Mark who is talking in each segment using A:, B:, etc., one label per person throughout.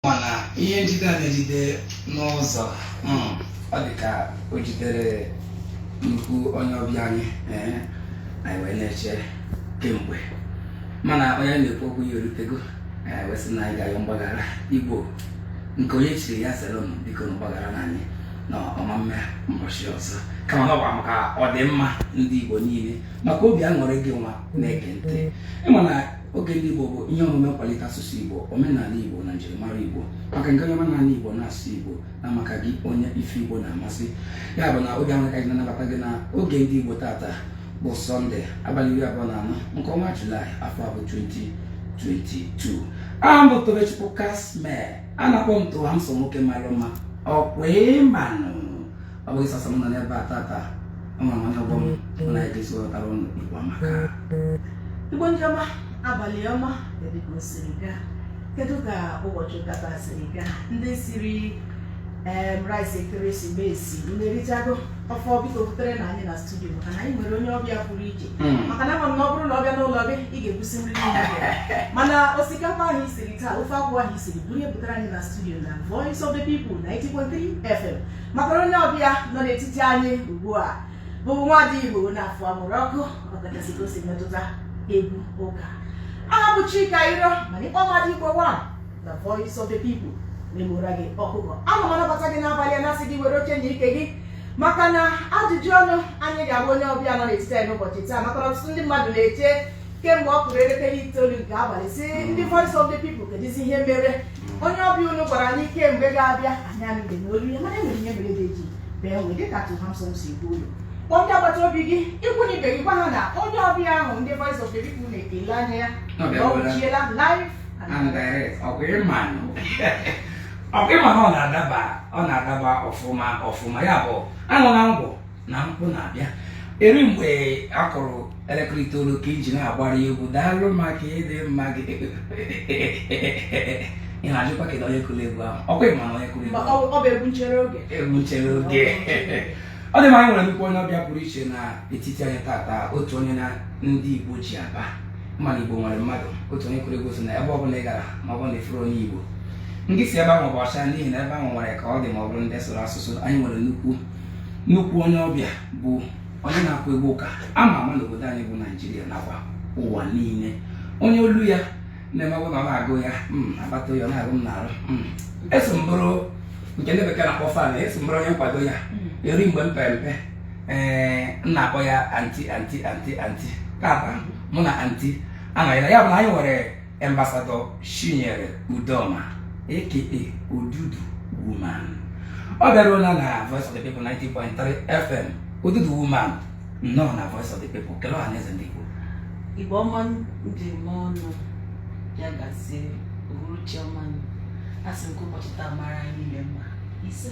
A: mana ihe njide a na-ejide n'ụzọ mm, ọ dị ka o jidere nnukwu onye ọbịa anyị ee, anyị wee na-eche kemgbe mana onye anyị na-ekwu okwu ya erutego ee, wee sị na anyị ga-ayọ mgbaghara igbo nke onye chiri ya zere m bikonụ gbagharanụ anyị na ọ ma mme mbọchị ọzọ kama na ọ bụ maka ọdịmma ndị igbo niile maka obi aṅụrị gị nwa na-ege ntị ịma na oge ndị Igbo bụ ihe omume nkwalite asụsụ Igbo omenala Igbo na njirimara Igbo maka gị onye omenala Igbo na-asụ Igbo na maka gị onye ife Igbo na-amasị ya bụ na obi aṅụrị ka anyị na-anabata gị na oge ndị Igbo tata bụ sọnde abalị iri abụọ na anọ nke ọnwa julaị afọ a bụ 2022 aha m bụ Tobechukwu Casmir a na-akpọ m Too Handsome Nwoke Mara Mma ọkwa ịmanụ ọ bụghị sọsọ m nọ n'ebe a tata ama m onye ọgbọ m mụ na ya ga-eso wetara ụnụ Igbo amaka
B: Igbo ndị ọma abalị ọma kedu ka o siri gaa kedu ka ụbọchị ụka taa siri gaa ndị siri em rice ekeresimesi unu erichago ọ fọ biko buterenụ anyị na studio maka na anyị nwere onye ọbịa pụrụ iche Mm. maka na ama m na ọ bụrụ na ọ bịa n'ụlọ gị ị ga-ebusi nri niile gị. mana osikapa ahụ i siri taa ofe akwụ ahụ i siri buru ya butere anyị na studio na voice of the people 90.3 fm maka onye ọbịa nọ n'etiti anyị ugbu a bụ nwada igbo na afọ amụrụ ọkụ ọkachasị ka o si metụta egwu ụka aha m bụ chika iro mana ị kpọọ m nwada igbo one na voice of the people m egbuoro gị ọkụkọ ana m anabata gị n'abalị a na-asị gị were oche nye ike gị maka na ajụjụ ọnụ anyị ga-agba onye ọbịa nọ n'etiti anyị n'ụbọchị taa maka na ọtụtụ ndị mmadụ na-eche kemgbe ọ kụrụ elekere itoolu nke abalị sị ndị voice of the people kedụzi ihe mere onye ọbịa unu gwara anyị kemgbe ga-abịa anyị anụghịnụ olu ya mana e nwere ihe mere ede ji bee nwii dịka too handsome si kwuo ụlọ kpọọ ndị agbata obi gị ikwu na ibe gị gwa ha na onye ọbịa ahụ ndị voice of the people na-ele anya ya Ọ na ọ bịakwala. wuchiela live and and
A: direct ọkwa ịma nụ ọkwa ịma na ọ na-adaba ọ na-adaba ọfụma ọfụma ya bụ anụ na ngwụ na mkpụ na-abịa eri mgbe a kụrụ elekere itoolu ka i ji na-agbara egwu daalụ maka ịdị mma gị ị na-ajụkwa kedu onye kụrụ egwu ahụ ọkwa ịma na onye kụrụ egwu ahụ ọ bụ egwu nchere oge
B: egwu nchere oge
A: ọ dị mma anyị nwere nnukwu onye ọbịa pụrụ iche na etiti anyị tata otu onye na ndị Igbo ji aba mba na Igbo nwere mmadụ otu onye kụrụ egwu sị na ebe ọ bụla ị gara ma ọ bụrụ na ị fụrọ onye Igbo gị si ebe ahụ pụọ ọsọ n'ihi na ebe ahụ nwere ka ọ dị ma ọ bụrụ ndị sụrụ asụsụ anyị nwere nnukwu nnukwu onye ọbịa bụ onye na-akụ egwu ụka ama ama n'obodo anyị bụ naijiria nakwa ụwa niile onye olu ya na-eme ọ bụ na ọ na-agụ ya mm, akpata oyi a na-awụ m n'arụ mm. eso m bụrụ nke ndị bekee na-akpọ fan eso m bụrụ onye nkwado ya eri mgbe m pere mpe ee m na-akpọ ya anti anti anti anti tata mụ na anti anọrịala ya bụ na anyị nwere Embasadọ Chinyere Udoma aka Odudu Woman ọ bịaruola na Voice of the People 90.3 FM Odudu Woman nnọọ na Voice of the People kelee ọha na eze ndị Igbo Igbo
B: ọma m ji eme ọnụ ya gazie uhuruchi ọma asị m ka ụbọchị taa mara anyị niile mma ise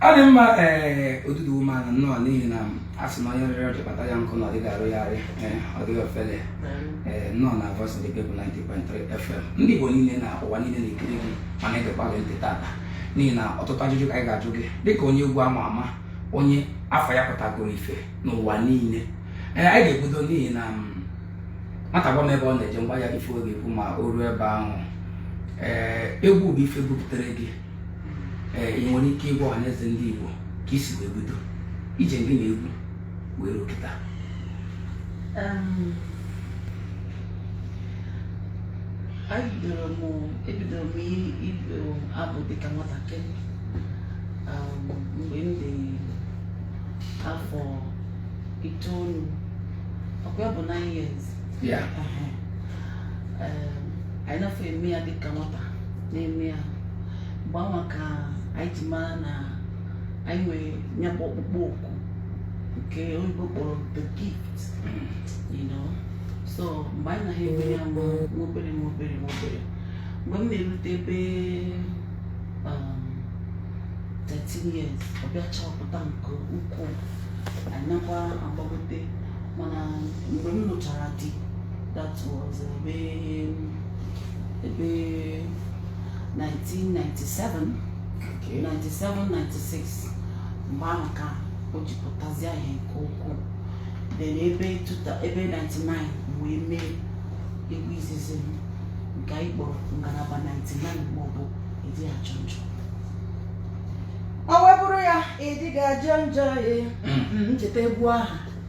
A: ọ dị mma ee Odudu Woman nnọọ n'ihi na a sị na onye rịrị ọjị kpata ya nkụ na ọ dịghị arụgharị ee, ọ dịghị ofele ee, nnọọ na Voice of the People 90.3 FM ndị Igbo niile na ụwa niile na-ekiri gị ma na-egekwa gị ntị tata n'ihi na ọtụtụ ajụjụ ka anyị ga-ajụ gị dịka onye egwu ama ama onye afa ya pụtagoro ife n'ụwa niile ee, anyị ga-ebido n'ihi na mm, nwata gwa m ebe ọ na-eje m gwa ya ife ọ ga-ekwu ma o ruo ebe ahụ ee egwu bụ ife bupụtara gị ee ị nwere ike ịgwa ọha na eze ndị Igbo ka i si wee bido ije gị na egwu wee ruo kịta Em,
B: anyị bidoro m ebidoro m i- ịbụ abụ dịka nwatakịrị Em, mgbe m dị afọ itoolu ọkwa ya bụ 9 years ya Ehe. Em, anyị na-afọ eme ya dịka nwata na-eme ya mgbe anwa ka anyị ji mara na anyị nwere ya bụ ọkpụkpọ oku nke oyibo kpọrọ the gift you know so mgbe anyị na-eme ya nwa nwa obere nwa obere nwa obere mgbe m na-erute ebe um, 13 years ọ bịa chapụta nke ukwuu anyị nakwa agbagote mana
C: mgbe m lụchara di that was ebe ebe 1997 Okay. 97 96 mgbe ahụ ka o ji pụtazie ihe nke ukwuu then ebe tuta ebe 99 m wee mee egwu izizi m nke anyị kpọrọ ngalaba 99 maọbụ ịdị ajọ njọ
B: ọ wee bụrụ ya ịdị ga-ajọ njọ ya Mm. ncheta egwu ahụ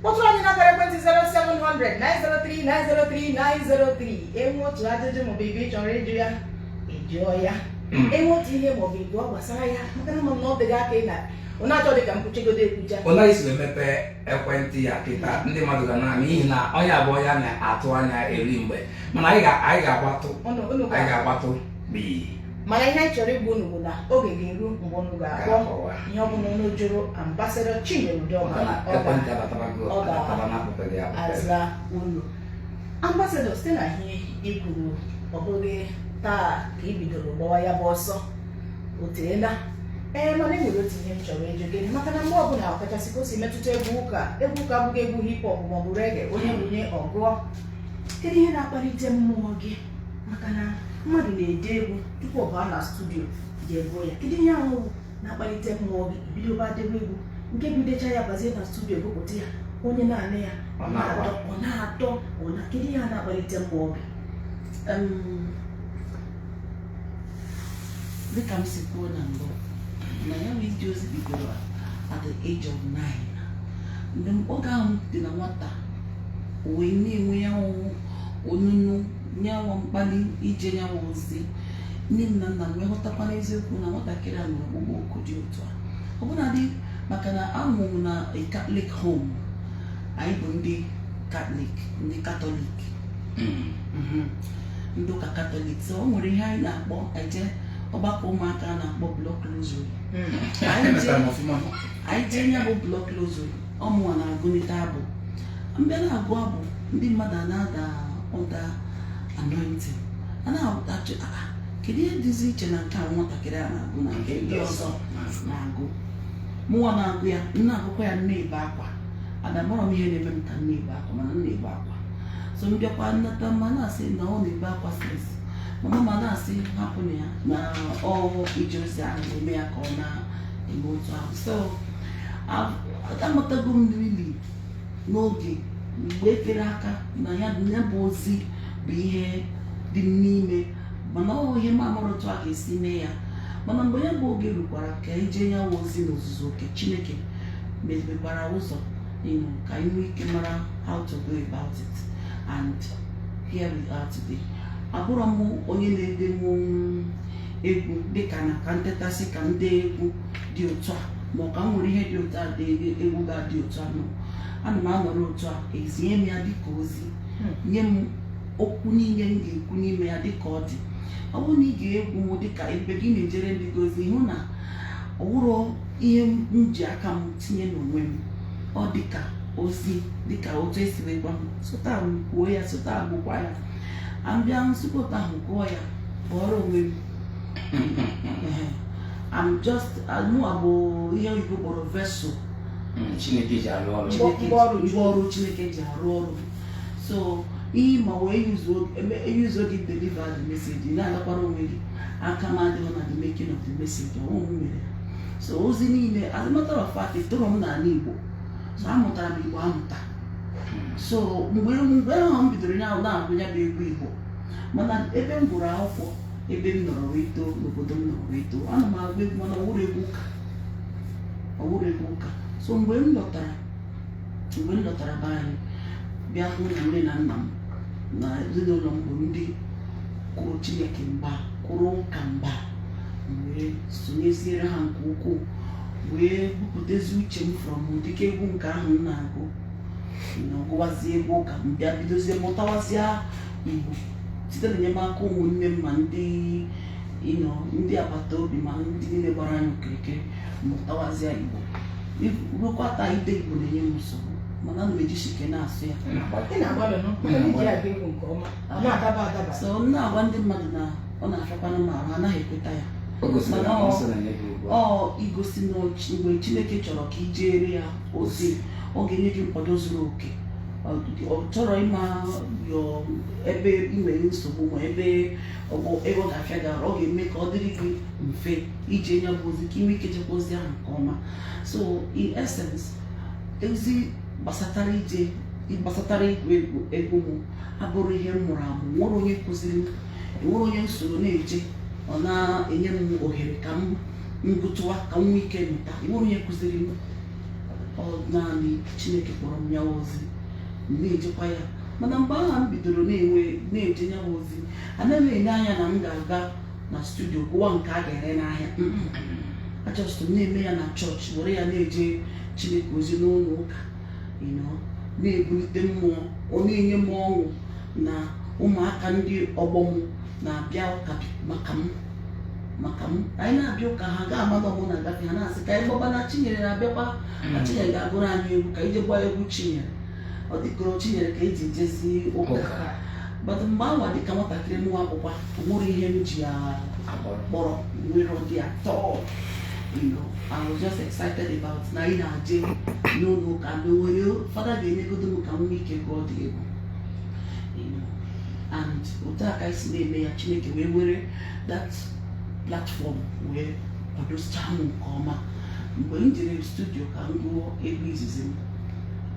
B: kpọtụrụ anyị n'akara ekwentị 0700 903 903 903 e nwee otu ajụjụ maọbụ ibe ị chọrọ ịjụ ya ị jụọ ya hmm. e nwee otu ihe maọbụ ịbụọ gbasara ya maka na ma na ọ dịghị aka ị na ọ na-achọ dị ka mkpuchigodo ekwucha ọ na anyị si
A: emepe ekwentị a kịta ndị mmadụ ga na-ama n'ihi na onye a bụ onye a na-atụ anya eri mgbe mana anyị ga-agbatụ anyị ga-agbatụ mana ihe anyị
B: chọrọ ịgwa unu bụ na oge ga-eru mgbe unu ga-akpọ ihe ọbụla unu jụrụ ambasadọ Chinyere Udoma ọ ga-aza unu ambasadọ site na ihe i kwuru ọ bụghị taa ka i bidoro gbawa ya bụ ọsọ o teela ee mana enwere otu ihe m chọrọ ịjụ gị maka na mgbe ọbụla ọkachasị ka o si metụta egwu ụka egwu ụka abụghị egwu hip hop maọbụ reggae onye nwunye ọ gụọ kedu ihe na-akpalite mmụọ gị maka na mmadụ na-ede egwu tupu ọ baa na studio jee gụọ ya kedu ihe ahụ na-akpalite mmụọ gị bido ba debe egwu nke bụ i decha ya bazie na studio gụpụta ya onye na-anụ ya ọ na-atọ ọ na-atọ ọ na kedu ihe a na-akpalite mmụọ gị
C: dịka m si kwuo na mbụ na ya bụ ije ozi bidoro at the age of nine mgbe oge ahụ dị na nwata wee na-enwe ya wụ onunu nyanwa mkpali ije nyanwa ozi nne m na nna m wee ghọtakwa n'eziokwu na nwatakịrị a nwere ọkpụkpọ oku dị otu a ọbụnadị maka na a mụrụ m na Catholic home anyị bụ ndị katọlik ndị katọlik hmm. mhm. ndị ụka katọlik so o nwere ihe anyị na-akpọ ije ọgbakọ ụmụaka a na-akpọ block rosary hmm. anyị jee ya bụ block rosary ọ mụnwa na-agụlite abụ m bịa na-agụ abụ ndị mmadụ a na-ada under anointing a na-ajụ "Ah, ah, kedu ihe dịzi iche na nke a nwatakịrị a na-agụ na nke ndị ọzọ na-agụ mụnwa na-agụ ya m na-agụkwa ya na-ebe akwa ada amarọ m ihe na-eme m ka m na-ebe akwa mana m na-ebe akwa so m bịakwa nata mma na-asị na ọ na-ebe akwa since mama m a na-asị hapụnụ ya na ọ ije ozi ahụ na-eme ya ka ọ na eme otu ahụ so amatago m really n'oge mgbe etere aka na ya ya bụ ozi bụ ihe dị m n'ime mana ọ bụ ihe m amarọ otu a ga-esi mee ya mana mgbe ya bụ oge rukwara ka e jee ya wụ ozi n'ozuzu oke chineke mepekwara ụzọ you know, ka anyị nwee ike mara how to go about it and here we are today abụrọ m onye na-edenwu egwu dịka na ka m tetasị ka m dee egwu dị otu a ma ọ ka m were ihe dị otu a dee egwu ga-adị otu a no ana m anọrọ otu a ezie m ya dịka ozi nye m okwu niile m ga-ekwu n'ime ya dịka ọ dị ọ bụrụ na ị gee egwu m dịka ebe gị na-ejere ndị gị ozi hụ na ọ wụrọ ihe m ji aka m tinye n'onwe m ọ dịka ozi dịka otu esi wee gwa m si otu a kwuo ya si otu a gụkwa ya m bịa sikwa otu ahụ gụọ ya pụọrọ onwe m I'm just mụ abụ ihe oyibo kpọrọ vessel hmm,
A: Chineke ji arụ ọrụ ngwa ọrụ Chineke
C: ji arụ ọrụ so ihe ma wee use gị deliver the message ị na-agakwara onwe gị aka m adịghị na the making of the message o nweghị m mere so ozi niile as a matter of fact etoro m n'ala Igbo so amụtara m Igbo amụta so mgbe mgbe ahụ m bidoro ya na-agụ ya bụ egwu igbo mana ebe m gụrụ akwụkwọ ebe m nọrọ wee too n'obodo m nọrọ wee too ana m agụ egwu mana ọ wụrọ egwu ụka ọ wụrọ egwu ụka so mgbe m lọtara mgbe m lọtara be anyị bịa hụ na nne na nna m na ezinụlọ m bụ ndị kwụrụ chineke mgba kwụrụ ụka mgba wee sonyeziere ha nke ukwuu wee bupụtezi uche m from ụdịka egwu nke ahụ m na-agụ m gụwazie egwu ụka m bịa bidozie mụtawazịa igbo site na enyemaka ụmụnne m ma ndị ndị agbata obi ma ndị niile gbara anyị okirikiri mụtawazịa igbo ruokwa taa ide igbo na-enye m nsogbu mana ana m ejisi ike na-asụ ya Ị na-agbalị nụ, mana ị ji agụ egwu nke ọma, ọ na-adaba adaba. so m na-agwa ndị mmadụ na ọ na-afịakwanụ m ahụ anaghị ekweta ya O gosiri na Mana ọ ọ- sị na ya bụ ugbu a. ọ igosi na ọ chi- mgbe chineke chọrọ ka i jeere ya ozi ọ ga-enye gị nkwado zuru oke Ọ dị- ọ chọrọ ịma yọ- ebe ị nwere nsogbu ma ebe ọ bụ- ebe ọ ga-afịa gị arụ ọ ga-eme ka ọ dịrị gị mfe ije ya bụ ozi ka i nwee ike chekwa ozi ahụ nke ọma so in essence ozi gbasatara ije gbasatara ịgụ egwu m abụrọ ihe m mụrụ amụ enwerọ onye kụziri m enwerọ onye m soro na-eje ọ na-enye m ohere ka m gụtụwa ka m nwee ike mụta enwerọ onye kụziri m ọ naanị chineke kpọrọ m ya ozi m na-ejekwa ya mana mgbe ahụ m bidoro na-enwe na-eje ya ozi anaghị m ele anya na m ga-aga na studio gụwa nke a ga-ere n'ahịa a just m na-eme ya na chọọchị were ya na-eje chineke ozi n'ụlọ ụka na-ebulite mmụọ ọ na-enye m ọṅụ na ụmụaka ndị ọgbọ m na-abịa ụka maka m maka m anyị na-abịa ụka ha ga-ama ọ mụ na-agafe ha na-asị ka anyị gbaba na chinyere na-abịakwa na mm. chinyere ga-agụrụ anyị egwu ka anyị jee gbaa egwu chinyere ọ dịkọrọ chinyere ka eji jezi ụka but mgbe anwa dịka nwatakịrị nwa akwụkwọ o nwerọ ihe m ji ya kpọrọ nwere ụdị atọ you know, I was just excited about na ị na-aje n'ụlọ ụka na o nwere fada ga-enyegodo m ka m nwee ike gụọ dị egwu You know, and otu a ka anyị si na-eme ya chineke wee were that platform wee kwadochaa m nke ọma mgbe m jere studio ka m gụọ egwu izizi m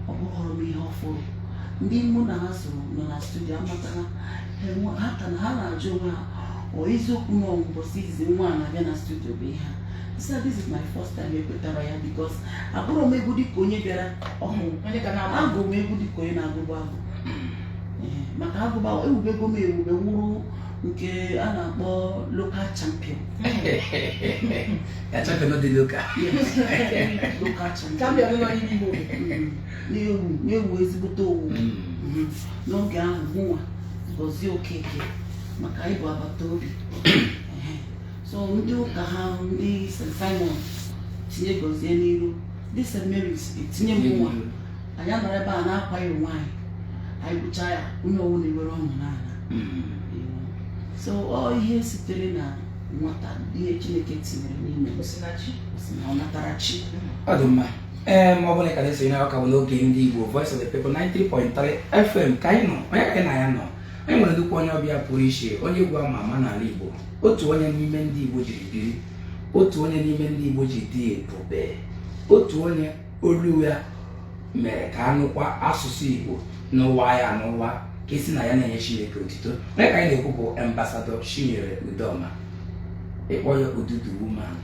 C: ọ bụghọrọ m ihe ọfụrụ ndị mụ na ha so nọ na studio amatarọ ọ eziokwu na mbọsị izizi nwa a na-abịa na studio bụ ihe a sị this is my first time ekwetarọ ya because agụrọ m egwu dịka onye bịara ọhụụ agụ m egwu dịka onye na-agụbu agụ maka agụbu ewubego m ewube wụrụ nke a na-akpọ local champion local champion na-ewu na-ewu ezigbote owu mm. mm. n'oge ahụ mụnwa Gozie Okeke maka anyị bụ agbata obi so ndị ụka ha ndị St. Simon tinye Gozie n'iru ndị St. Mary's etinye mụnwa anyị anọrọ ebe a na-akwa ya onwe anyị anyị bụchaa ya onye ọwụna ewere ọṅụ naa mm. so ọ ihe sitere na nwata ihe Chineke tinyere n'ime m ọnatarachi ọ dị mma
A: ee ma ọ bụrụ na ị ka na-esonye na ọ ka bụ n'oge ndị Igbo Voice of the People 90.3 FM ka anyị nọ onye ka anyị na ya nọ anyị nwere nnukwu onye ọbịa pụrụ iche onye egwu ama ama n'ala Igbo otu onye n'ime ndị Igbo jiri biri otu onye n'ime ndị Igbo ji dị ebube otu onye olu ya mere ka anụkwa asụsụ Igbo n'ụwa ya n'ụwa ka esi na ya na-enye Chineke otito onye ka anyị na-ekwu bụ ambasadọ Chinyere Udoma ịkpọ ya odogwu woman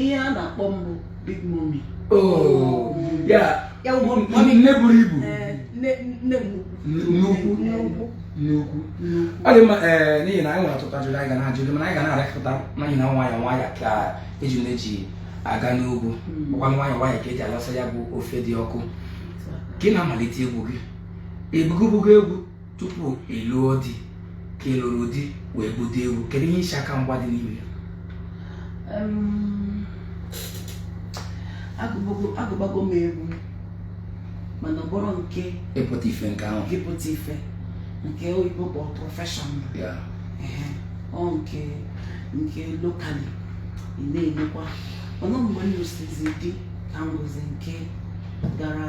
C: ihe a na-akpọ m bụ big mommy
A: oh, nne buru ibu eh, nnukwu nnukwu ọ dị mma ee eh, n'ihi na anyị nwere ọtụtụ ajụjụ anyị ga na-ajụ gị mana anyị ga na-arịpụta n'ihi na nwayọ nwayọ ka eji na-eji aga n'ugwu hmm. ọkwa nwayọ nwayọ ka eji alacha ya bụ ofe dị ọkụ ka ị na-amalite egwu gị ị gụbago egwu tupu ị lụọ di ka ị lụrụ di wee bido egwu kedu ihe iche aka mgba dị n'ime
C: ya agụbago m egwu mana ọ bụrọ nke ịpụta ife nke
A: ahụ ịpụta
C: ife nke oyibo kpọ professional ọ nke nke locally ị na-enyekwa ọnụ mgbe m lụsịzi di ka m gụzi nke gara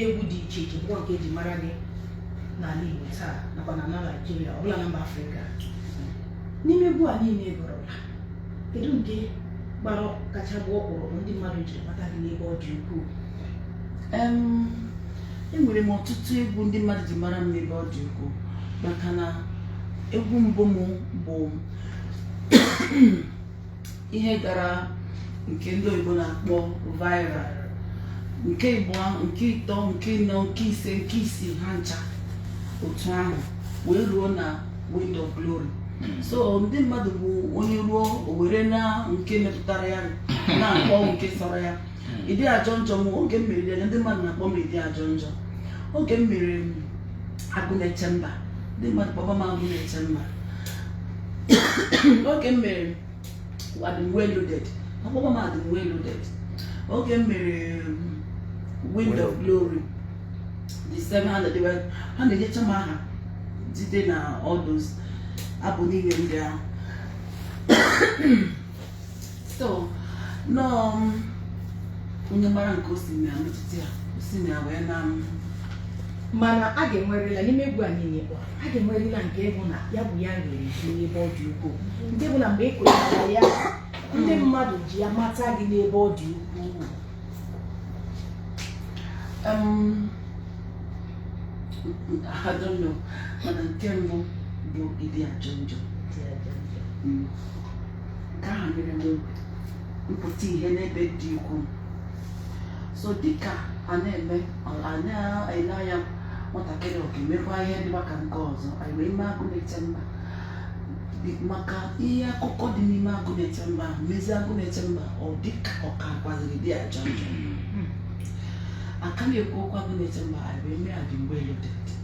B: egwu dị iche iche bụkwa nke eji mara gị n'ala Igbo taa nakwa na ala Naịjirịa ọ bụla na mba Afrịka n'ime egwu a niile ị gụrụla kedu nke gbara kacha gbaa ọkpụrụkpụ ndị mmadụ ji mata gị n'ebe ọ dị ukwuu
C: Em, enwere m ọtụtụ egwu ndị mmadụ ji mara m n'ebe ọ dị ukwuu maka na egwu mbụ m bụ ihe gara nke ndị oyibo na-akpọ viral nke ịbụa nke ịtọ nke ịnọ nke ise nke isii ha ncha otu ahụ wee ruo na wind of glory hmm. so ndị mmadụ bụ onye ruo o were na nke metụtara ya na-akpọ nke sọrọ ya ịdị ajọ njọ m oge m mere ya ndị mmadụ na-akpọ m ịdị ajọ njọ oge m mere agụ na-eche mba ndị mmadụ kpọba m agụ na-eche mba oge m mere adịm well loaded akpọba m adịm well loaded oge m mere wind of glory the same thing ha na-enyecha m aha site na all those abụ niile ndị ahụ so nọọ m onye mara nke o si na ya metụta ya o si na ya wee na m
B: mana a ga-enwerịla n'ime egwu a niile kpọ a ga-enwerịla nke bụ na ya bụ ya nwere ike n'ebe ọ dị ukwuu nke bụ na mgbe ị kụchara ya ndị mmadụ ji ya mata gị n'ebe ọ dị ukwuu Um,
C: I don't know. Mana nke mbụ bụ ịdị ajọ njọ. Mm. nke ahụ mere m mpụta ihe n'ebe dị ukwuu so dịka a na-eme a na-ele anya nwatakịrị ọ ga-emekwa ihe dịkwa ka nke ọzọ anyị wee mee agụ na-eche mba Dị- maka ihe akụkọ dị n'ime agụ na-eche mba ahụ mezi agụ na-eche mba ọ dịka ọ ka kwaziri dị ajọ njọ a ka na-ekwu okwu agụ na-eche mba anyị wee mee Adịm well loaded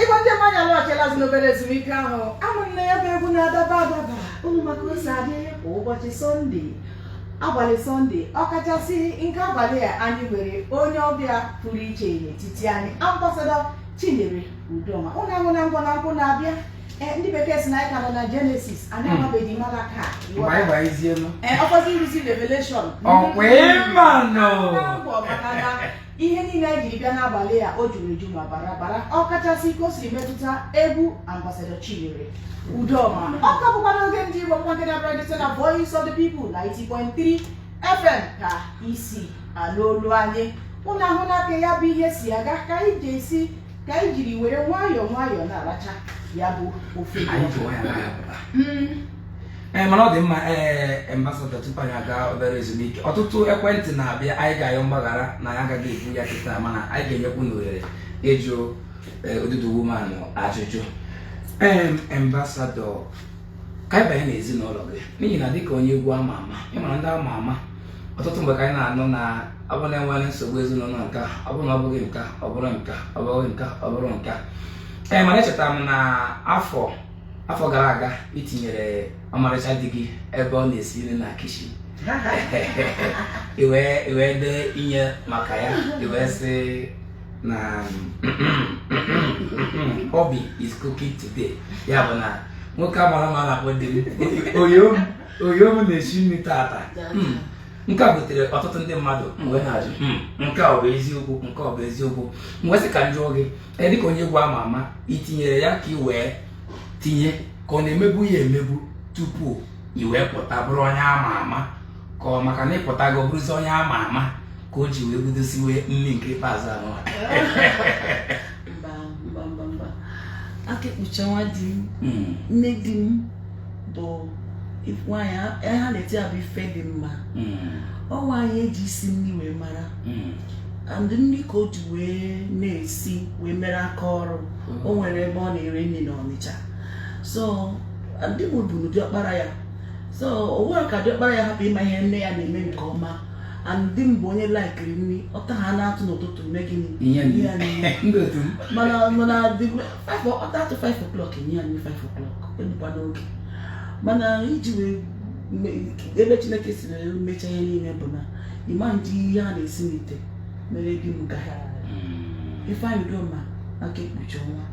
D: Igbo ndị ọma anyị alọghachila azụ n'obere ezumike ahụ ama m na ya bụ egwu na-adaba adaba unu ma ka o si adị kwa ụbọchị sọnde abalị sọnde ọkachasị nke abalị a anyị nwere onye ọbịa pụrụ iche n'etiti anyị ambasadọ chinyere udoma unu ahụna ngwa na nkwụ na-abịa Eh, ndị bekee si na anyị ka nọ na jenesis anyị Hmm. amabeghị Malakaị mgbe anyị ga-eji eru ọkọzi iruzi revelation ọ kwa ị manụ Akwụkwọ maka na ihe niile anyị jiri bịa n'abalị a o juru eju ma bara abara ọ kachasị ka o siri metụta egwu ambasadọ Chinyere Udoma ọ ka bụkwa n'oge ndị Igbo nwa nke na-abịara gị site na Voice of the People 90.3 FM ka i si anụ olu anyị unu ahụna ka ya bụ ihe si aga ka anyị ga-esi ka anyị jiri were nwayọọ nwayọọ na-aracha ya bụ ofe Anyị ji nwayọọ na-apụta. Mm.
A: ee eh, mana ọ dị mma ee eh, ambasada tupu anyị aga obere ezumike ọtụtụ ekwentị na-abịa anyị ga-ayọ mgbaghara na anyị agaghị ebu ya kịta mana anyị ga-enyekwu unu ohere ịjụ eh, odudu woman ajụjụ ee ambasada ka anyị banye n'ezinụlọ gị n'ihi na dịka onye egwu ama ama ị mara ndị ama ama ọtụtụ mgbe ka anyị na-anụ na ọ bụrụ na e nwere nsogbu ezinụlọ nka ọ bụrụ na ọ bụghị nka ọ bụrụ nka ọ bụghị nka ọ bụrụ nka ee mana echetara m na afọ afọ gara aga ị tinyere ọmarịcha di gị ebe ọ na-esi nri na kichin i wee i wee dee inye maka ya i wee sị na hubby is cooking today ya bụ na nwoke a mara mma na-akpọ di m oyo m oyo m na-esi nri tata Mm. nke a butere ọtụtụ ndị mmadụ wee na-ajụ "Mm, nke a ọ bụ eziokwu nke ọ bụ eziokwu m wee sị ka m jụọ gị e, dịka onye egwu ama ama itinyere ya ka ị wee tinye ka ọ na-emebu ya emebu tupu i wee pụta bụrụ onye ama ama ka ọ maka na ịpụtago bụrụzi onye ama ama ka o ji wee bido siwe nri nke ikpeazụ anụ
C: Akekpuchọnwa di m hmm. nne di m bụ nwaanyị ha na-eti abụ ife dị mma hmm. ọ nwaanyị eji isi nri wee mara hmm. and nri ka o ji wee na-esi wee mere aka ọrụ hmm. o nwere ebe ọ na-ere nri na Ọnịcha so di mụ bụnụ diọkpara ya so o nwerọ ka diọkpara ya hapụ ịma ihe nne ya na-eme nke ọma and di m bụ onye laikiri nri ọta ha na-atụ n'ụtụtụ mee gịnị mana ọta atụ 5 o'clock enye ya nri 5 o'clock ebukwa n'oge mana iji wee ebe Chineke si na mmecha ihe niile bụ na ịma ndị ihe a na-esi n'ite mere di m gaghị hmm. Ifeanyị Udoma Akaekpuchiọnwa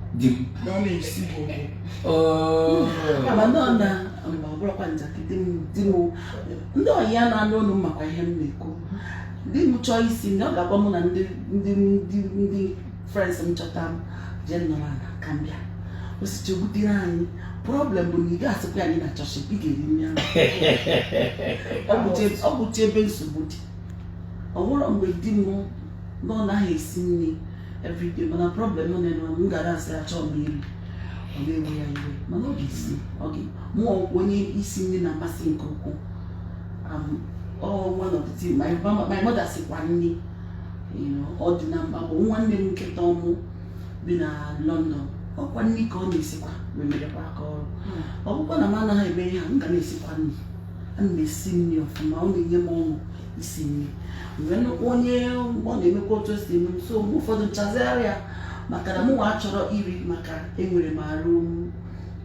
C: na ọ na-esi bụ oh. mana ọ bụrọkwa njakịrị di m ndị ọyị ya na-anụ ọnụ m makwa ihe m na-ekwu di m chọọ isi na ọ ga-agwa mụ na ndị friends m chọta m jee nọrọ ala ka m bịa o sichaa butere anyị problem bụ na ị ga-asịkwa ya na ị chọghị ị ga-eri nri ahụ ọ bụcha ebe nsogbu dị ọ bụrụ mgbe di m na ọ naghị esi nri everyday mana problem nọ na m gara asị achọrọ m iri ọ na-ewe ya iwe mana ọ ga-esi ọga mụ ọ onye isi nri na-amasị nke ukwuu um, one of the things my mother sikwa nri Ọdịnamba bụ nwanne m nke tọ mụ bi na London ọkwa nri ka ọ na-esikwa wee merekwa aka ọrụ hmm. ọ bụkwa na m anaghị eme ihe a m ga na-esikwa nri ana m esi nri ọfụma ọ na-enye m ọṅụ isi nri mgbe nnukwu onye ọ na-emekwa otu esi eme so mgbe ụfọdụ nchazigharịa maka na mụnwa achọrọ iri maka enwere m arụ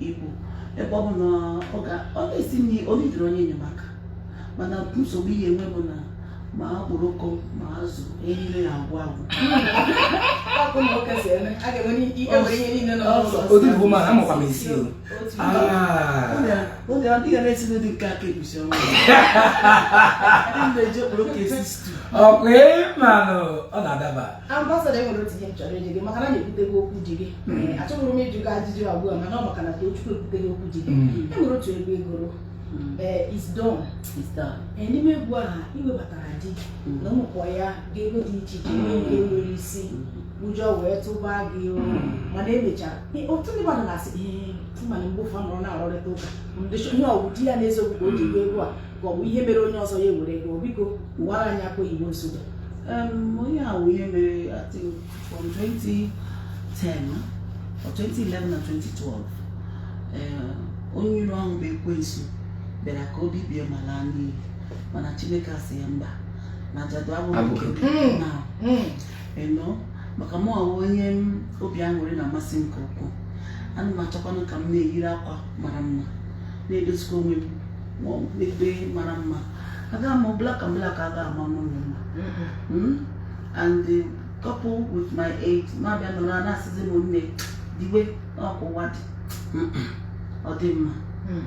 C: ibu ebe ọ bụ na ọ na-esi nri ọ na-ejiri onye enyemaka mana nsogbu ị ya-enwe bụ na ma okporoko ma azụ niile ya-agwụ agwụ akpụ na ụka si eme a
A: ga-enwe ihe niile nọ n'ụzọ odogwu woman amakwa m esi o
C: oge ọ dịghị na-esi n'ụdị nke aka egusi ọnwa na-eji okporoko esi stew ọkwa
A: ịmanụ ọ na-adaba ambasada enwere
D: otu ihe m chọrọ ịjụ gị maka na ekwutego okwu di gị achọghị m ịjụ gị ajụjụ abụọ mana ọ maka na Tochukwu ekwutego okwu di gị enwere otu egwu ị gụrụ mm. eh, is done eh, n'ime egwu ahụ iwebatara di mm. na ụmụkpọ ya ga-ego dị iche iche ihe nke nwere isi ụjọ wee tụba gị mana emechara otu ndị mmadụ na-asị ihe mana mgbe ụfọdụ nọrọ na-arụrịta ụka ihe ọ wụ di ya n'eziokwu ka o ji agụ egwu a ka ọ bụ ihe mere onye ọzọ ya ewere gụọ biko kọwara anyị akwa igbo nsogbu onye
C: ahụ ihe mere atịghị From 2010 or 2011 na 2012 eh, onye iro ahụ bụ ekwensu bịara ka o bibie ma laa n'iyi mana Chineke asị ya mba na ajadu abụghị nke m na hmm. you know maka mụwa wụ onye obi aṅụrị na-amasị nke ukwuu ana m achọkwanụ ka m na-eyiri akwa mara mma na-edozikwa onwe m n'ebe mara mma aga m black and black aga ama mụ mma and coupled with my age na-abịa nọrọ a na-asịzi m nne diwe ọ ka ụwa dị ọ dị mma Mm.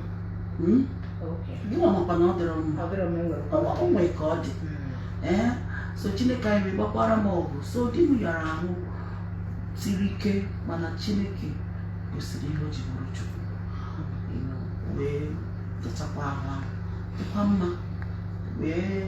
C: Mm? Okay. gịnwa makwa na ọ dịrọ mma Ọ bụrụ m enwere Ọ- ọ nwee ka ọ dị Mm. ee so chineke anyị wee gbakwara m ọgụ so di m yara ahụ siri ike mana chineke gosiri ihe o ji bụrụ chukwu You know, wee zọchakwa ahụ ahụ dịkwa mma wee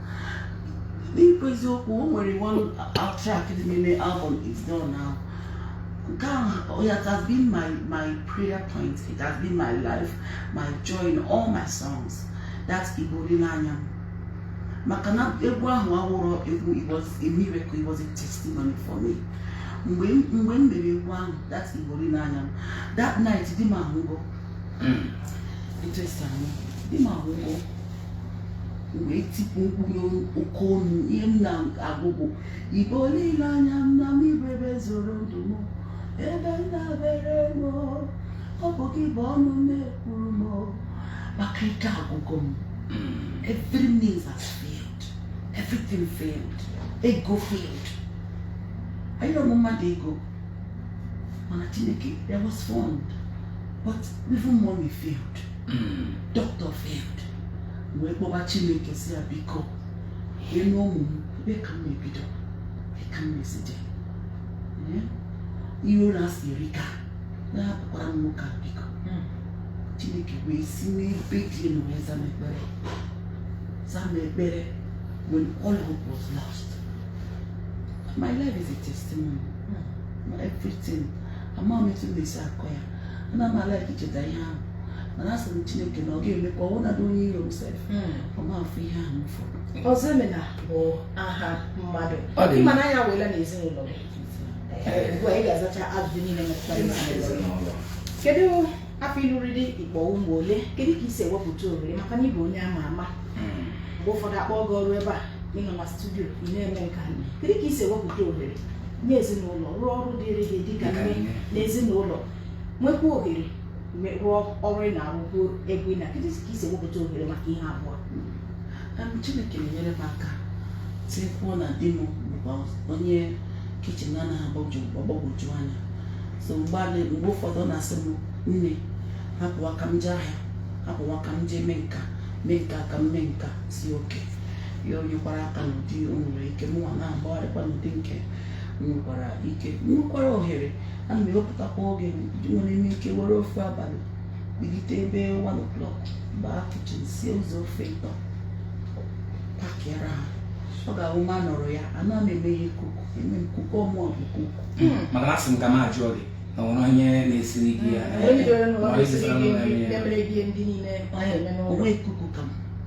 C: n'ikwu eziokwu o nwere one track dị n'ime album it's done now nke ahụ it has been my my prayer point it has been my life my joy in all my songs that ị bụ olileanya m maka na egwu ahụ awụrọ egwu it was a miracle it was a testimony for me mgbe m mere egwu ahụ that ị bụ olileanya m that night di m anwụgo hmm. interesting di m anwụgo wee tikpu mkpu n'oke olu ihe m na-agụ bụ ị bụ olileanya m nna m ị bụ ebe e zoro ndụ m ebe ndabere m ọ bụ gị bụ ọnụ na-ekwuru m maka ike agwụgo m every means has failed everything failed ego failed anyị arịọrọ mmadụ ego mana chineke there was fund but even money failed doctor failed wee kpọba chineke sị ya biko leenụ ụmụ m ebe ka m na-ebido ebe ka m na-esite ihe ụwa siri ike anapụkwala m nwoke a biko hmm. chineke wee si n'ebe dị elu wee zaa m ekpere zaa m ekpere when all hope was lost my life is a testimony hmm. everything ama m etu m na-esi akọ ya ana m a-like icheta ihe ahụ mana asị m chineke na ọ ga-eme ka ọ wụnadị onye iro m sef ọ ma afụ ihe ahụ m fụrụ Ọzọemena bụ
B: aha mmadụ Ọ dị ị ma na anya wela na ezinụlọ gị Ee, ugbu a ị ga-azacha ajụjụ niile metụtara ezinụlọ gị. kedu afọ ị lụrụ di ị kpọ ụmụ ole kedu ka i si ewepụta ohere maka na ị bụ onye ama ama mgbe ụfọdụ a kpọọ gị ọrụ ebe a ị nọ na studio ị na-eme nke a kedu ka i si ewepụta ohere nye ezinụlọ rụọ ọrụ dịrị gị dịka nne na ezinụlọ nwekwa ohere me- rụọ ọrụ ị na-arụkwu ebe ị nọ kedu ka i si ewepụta ohere maka ihe abụọ Em,
C: chineke na-enyere m aka tikwuo na di m bụkwa onye kichin na-anaghị agbagwoju anya so mgbe a na- mgbe ụfọdụ ọ na-asị m nne hapụ ka m jee ahịa hapụ ka m jee mee nka mee nka ka m mee nka si oke ya o nyekwara aka n'ụdị o nwere ike mụnwa na-agbagharịkwa n'ụdị nke m nwekwara ike m nwekwara ohere ana m ewepụtakwa oge enwere m ike were ofu abalị bilite ebe 1 o'clock baa kichin sie ụzọ ofe ịtọ pakịara ha ọ ga-awụ m anọrọ ya ana m eme ihe kuku eme m kuku ọ mụwa bụ kuku maka na asị m ka
A: m jụọ gị ma e nwere onye na-esiri gị ya
C: o nwe kuku ka m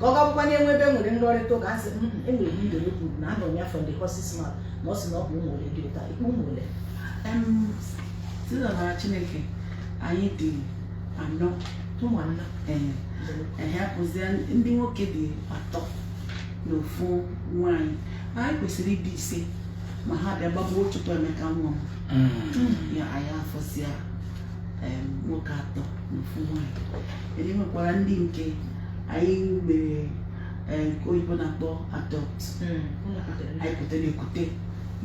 B: ka ọ ga-abụkwa na e nwee ebe e nwere nrọrịta ụka a sị "Mm, mm, enwere m idere kwuru na anụ m ya from the horse's mouth na ọ sị na ọ bụ ụmụ ole dị ụta ikpe ụmụ ole Em, site
C: n'amara Chineke anyị dị anọ ụmụ
B: anọ ee
C: ehe apụzie ndị nwoke dị atọ na ofu nwaanyị anyị kwesịrị ịdị ise ma ha bịa gbagbuo Chukwuemeka nwa m ya anyị afọsịa em, nwoke atọ na ofu nwaanyị Then e nwekwara ndị nke anyị mere eh, nke oyibo na-akpọ adopt anyị kutere ekute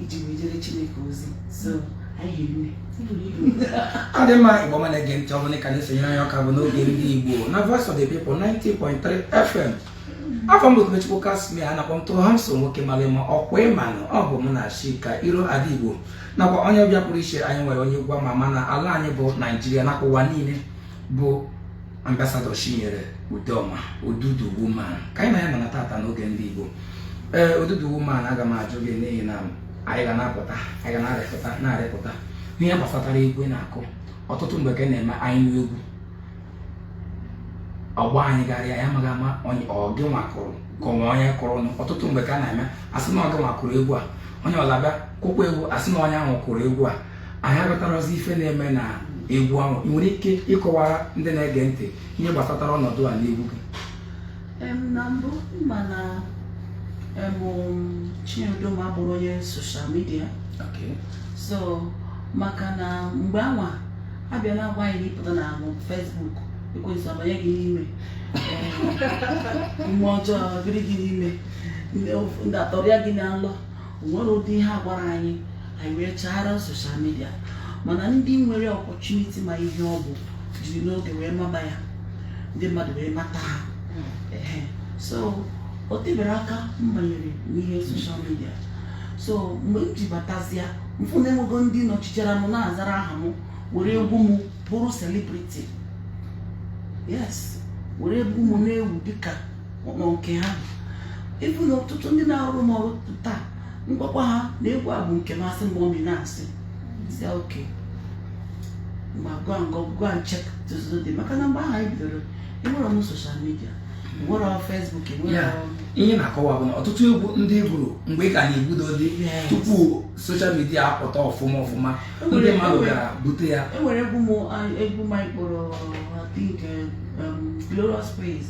C: iji wee jere chineke ozi so anyị hiri
A: nne ọ dị mma igbo ọma na-ege ntị ọ bụrụ na ị ka na-esonyere anyị ọ ka bụ n'oge ndị igbo na voice of the people 90.3 fm afa m bụ Tobechukwu Casmir a na-akpọ m Too Handsome nwoke mara mma ọ kwa ị manụ ọ bụ mụ na Chika Iro Ada Igbo nakwa onye ọbịa pụrụ iche anyị nwere onye egwu ama ama na ala anyị bụ naijiria nakwa ụwa niile bụ ambasadọ Chinyere Udoma Odudu Woman ka anyị na ya nọ tata n'oge ndị Igbo ee Odudu Woman aga m ajụ gị n'ihi na anyị ga na-apụta anyị ga na-arịpụta na-arịpụta ihe gbasatara egwu ị na-akụ ọtụtụ mgbe ka na-eme anyị nụ egwu ọ gbaa anyị gharịị anyị amaghị ma ọ gịnwa kụrụ ka o nwe onye kụrụ nụ ọtụtụ mgbe ka a na-eme a sị na ọ gịnwa kụrụ egwu a onye ọzọ bịa kụkwa egwu a sị na onye ahụ kụrụ egwu a anyị aghọtarọzi ife na-eme na egwu ahụ ị nwere ike ịkọwara ndị na-ege ntị ihe gbasatara ọnọdụ a n'egwu gị
C: na mbụ ma na Chinyere Udoma abụrọ onye social media so maka na mgbe anwa a bịa na-agwa anyị na ị pụta na Facebook ekwensụ abanye gị n'ime mmụọ ọjọọ biri gị n'ime ndị atọrịa gị na nlọ nwere ụdị ihe a gwara anyị anyị wee chaara soshal midia mana ndị nwere opportunity ma ihe ọ bụ jiri n'oge wee maba ya ndị mmadụ wee mata ha Ehe. so o tebero aka m banyere n'ihe soshal midia so mgbe m ji batazia m fụ na enwego ndị nọchitere m na-azara aha m were egwu m bụrụ celebrity yes were egwu m na-ewu dịka ụlọ nke ha ịbụ na ọtụtụ ndị na-arụ m ọrụ taa m gwakwa ha na egwu a bụ nke m a sị mgbe ọ na-asịzi okay ma go and check tụzụ dị maka na mgbe ahụ anyị bidoro enwerọ soshal midia enwerọ Facebook enwere ihe m na-akọwa
A: bụ na ọtụtụ egwu ndị m gụrụ mgbe ị ka na-ebido dị tupu soshal midia apụta ọfụma ọfụma ndị mmadụ gara bute ya enwere egwu m
C: egwu m kpọrọ I think um, Glorious Praise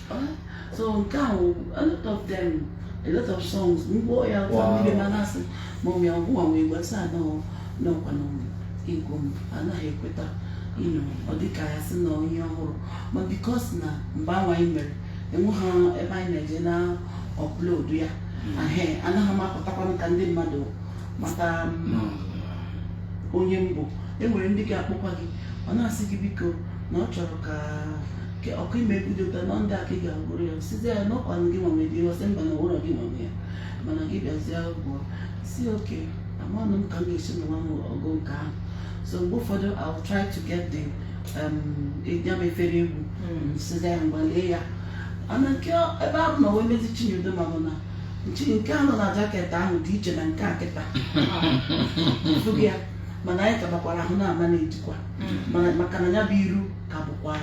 A: so
C: nke ahụ a lot of them a lot of songs mgbe ya ụta mmiri ma na-asị ma ọmị ọgwụ ma wee gbasa anọọ n'ọkwa na egwu m anaghị ekweta ịnọ ọ dịka ya sị na onye ọhụrụ but because na mgbe anwa anyị mere enweghị ebe anyị na-eje na-upload ya ahe anaghị m apụtakwanụ ka ndị mmadụ mata onye m bụ enwere ndị ga-akpọkwa gị ọ na-asị gị biko na ọ chọrọ ka ke ọkụ ime vidio ụta nọ ndị aka ị ga-agụrụ ya sizi ya n'ọkwanụ gị nwa nwe dị ọ sị mba na ụlọ gị nwa nwe ya mana gị bịazie ụgwọ sị okay amanụ m ka m ga-esi nwa m ọgụ nke ahụ so mgbe ụfọdụ I will try to get the um, ya bụ efere egwu sizi ya mgbalie ya ana nke ebe ahụ na wee mezi Chinyere Udoma bụ na nchi nke ahụ na jacket ahụ dị iche na nke a kịta fụgị ya mana anyị kabakwara ahụ na-ama na-ejikwa mana maka na ya bụ iru ka bụkwa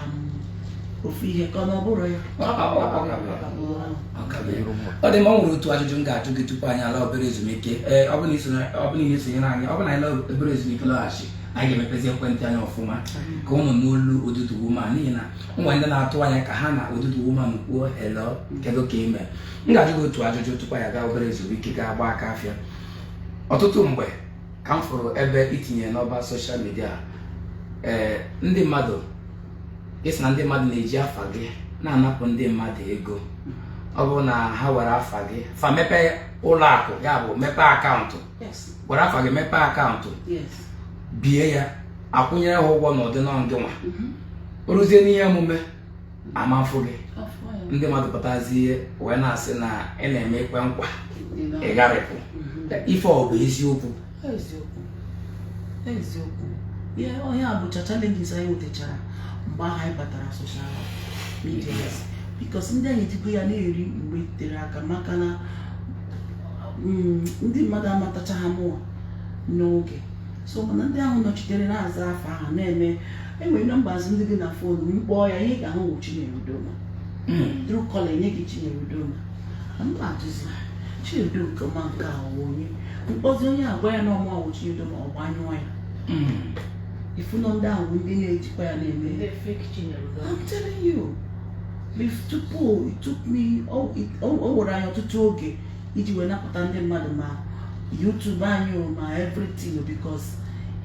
C: ofu ihe ka ọ na ọ bụrụ ya Ọ- ọ- ọ- ọ ka
A: bụ ya. Ọ ka bụ ya. ọ dị mma ọ nwere otu ajụjụ m ga-ajụ gị tupu anyị ala obere ezumike ee ọ bụrụ na i sonye- ọ bụrụ na i sonyere anyị ọ bụrụ na anyị laa obere ezumike lọghachi anyị ga-emepezi ekwentị anyị ọfụma ka unu nụ olu Odudu Woman n'ihi na e nwere ndị na-atụ anya ka ha na Odudu Woman kwuo hello kedu ka i me m ga-ajụ gị otu ajụjụ tupu anyị aga obere ezumike ga-agba aka afịa ọtụtụ mgbe ka m fụrụ ebe i tinyere n'ọba soshal midia ee eh, ndị mmadụ ị sị na ndị mmadụ na-eji afa gị na-anapụ ndị mmadụ ego ọ bụrụ na ha were afa gị fa mepee ụlọ akụ ya bụ mepee akaụntụ were afa gị mepee akaụntụ bie ya a kwụnyere ha ụgwọ n'ụdị na ọ gị nwa mhm. o ruzie n'ihe omume ama afụ gị ndị mmadụ pụtazie wee na-asị na ị na-eme ikwe nkwa ị gharịpụ mhm. ife ọ bụ eziokwu
C: eziokwu ihe onye a bụcha challenges anyị nwetachara mgbe ahụ anyị batara social media because ndị anyị ejigo ya na-eri mgbe tere aka maka na mm, ndị mmadụ amatachaha mụwa n'oge so mana ndị ahụ nọchitere na-aza afa ahụ na-eme e nwere numbers ndị dị na phone m kpọọ ya ihe ị ga-ahụ wụ Chinyere Udoma Truecaller enye gị Chinyere Udoma m bịa jụzie Chinyere Udoma nke a wụ onye m kpọzie onye a gwa ya na ọ mụwa wụ Chinyere Udoma ọ gbanyụọ ya ị fụnụ ndị ahụ ndị na-ejikwa ya na-eme Ndị fake Chinyere Udoma. I'm telling you bif tupu it took me o o- o were anyị ọtụtụ oge iji wee napụta ndị mmadụ ma YouTube anyị o ma everything o because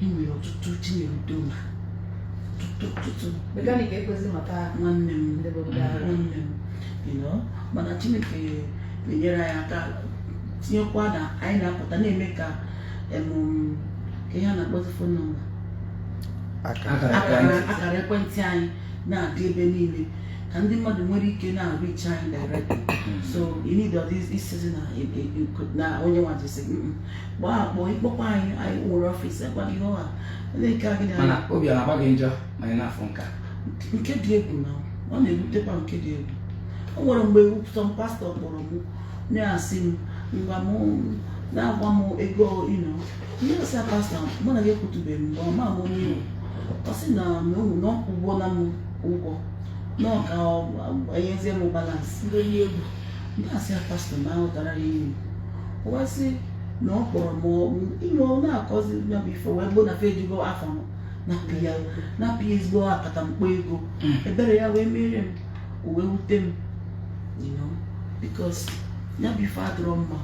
C: e nwere ọtụtụ Chinyere Udoma ọtụtụ ọtụtụ Mechanic ekwezi mata nwanne m Ndị bụ ndị ara. nwanne m you know mana Chineke na-enyere anyị aka tinyekwa na anyị na-apụta na-eme ka em, ka ihe a na-akpọzi phone number akara akara ekwentị anyị na-adị ebe niile ka ndị mmadụ nwere ike na-areach anyị directly hmm. so you need all this ịsịzi na e, e, e, na onye nwa jisi gbaa akpọ ịkpọkwa anyị anyị nwere office agwa gị ọha na-eke agị na mana obi ọ na-agba gị
A: njọ ma ị na-afụ nka
C: nke dị egwu na ọ na-ebutekwa nke dị egwu o nwere mgbe some pastor kpọrọ m na-asị m ngwa m na-agwa m ego ino ihe m sị ya pastor mụ na gị ekwutuberọ mbụ ama m onye ị wụ ọ sị na na ohu na ọ kwụgona m ụgwọ na ọ ka enyezie m balance ndị onye egwu
B: ndị asị ya
C: pastor ma ahụtara ya iwu o wee sị na ọ kpọrọ m ọ- ime ọ na-akọzi ya bụ ife wee bụrụ na fa ejigo afa m napịa napịa ezigbo akatamkpo ego ebere ya wee mee m o wee wute m you know because ya bụ ife adịrọ mma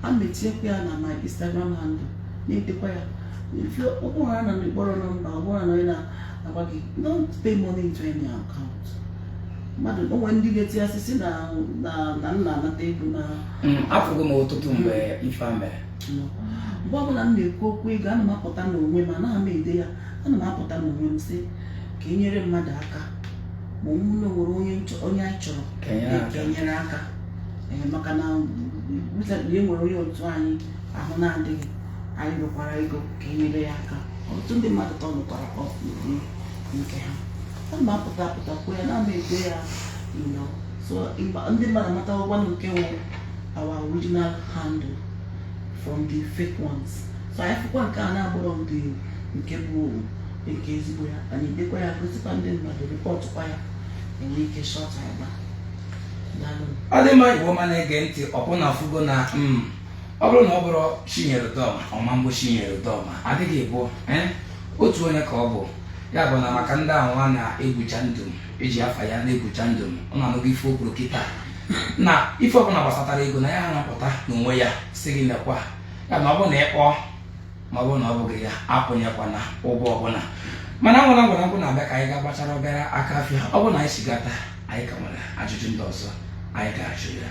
C: ana m etiekwa ya na my Instagram handle na-edekwa ya if you ọ bụrụ na ị kpọrọ number ọbụla na onye na-agwa gị don't pay money into any account mmadụ o nwere ndị ga-eti ya sị sị na na na m na-anata ego na Mm, afụgo
A: m ọtụtụ mgbe ife a mere
C: mgbe ọbụla m na-ekwu okwu ego ana m apụta n'onwe m anaghị m ede ya ana m apụta n'onwe m sị ka e nyere mmadụ aka ma ọ bụrụ na o nwere onye m chọ- onye anyị chọrọ Ka e nyere aka. ka e nyere aka ee maka na mụtabiri enwere onye otu anyị ahụ na-adịghị anyị rịọkwara ego ka enyere ya aka ọtụtụ ndị mmadụ tọnụkwara ọpụrụ nke ha ana m apụta apụta kwuo ya ana m ede ya you know so ndị mmadụ amata ụgwọ nke nwe our original handle from the fake ones so anyị fụkwa nke a na-abụrọ ndị nke bụ nke ezigbo ya anyị edekwa ya gosikwa ndị mmadụ rịpọtụkwa ya enwe ike shut agba
A: ọ dị mma igbo ọma na-ege ntị ọkwa unu afụgo na mm, ọ bụrụ na ọ bụrọ chinyere udoma ọ ma bụ chinyere udoma adịghị ịbụa eh, otu onye ka ọ bụ ya bụ na maka ndị ahụ a na-egwucha ndụ eji afa ya na-egwucha ndụ unu anụgo ife o kwuru kịta na ife ọbụla gbasatara ego na ya na-apụta n'onwe ya sị gị lekwa ya na ọ bụrụ na ị kpọọ ma ọ bụrụ na ọ bụghị ya akwụnyekwana ụgwọ ọbụla mana nwere ngwara nkwụ na-abịa ka anyị gaa gbachara obere aka afịa ọ bụrụ na anyị chigata anyị ka nwere ajụjụ ndị ọzọ anyị ga-ajụ ya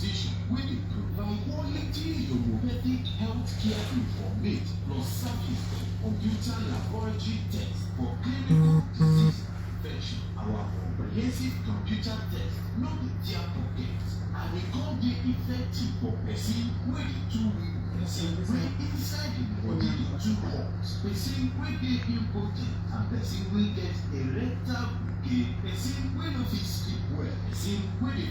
E: They should really provide quality homeopathic health care informate plus service and computer laboratory tests for clinical disease prevention. Our comprehensive computer test no be tear pocket and e come dey effective for person wey dey too weak, person wey inside im body dey too hot, person wey dey impotent and person wey get erectile gbege, person wey no fit sleep well, person wey dey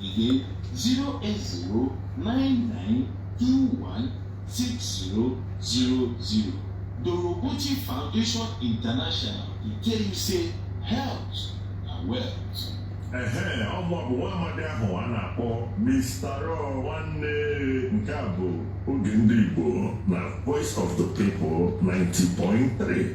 E: Again zero eight zero nine nine two one six zero zero zero. Dorobuchi Foundation International dey tell you say health na wealth. ehe ọ
F: mụ bụ nwa amadi ahụ a na-akpọ Mr. Raw nwanne nke a bụ oge ndị Igbo na Voice of the People 90.3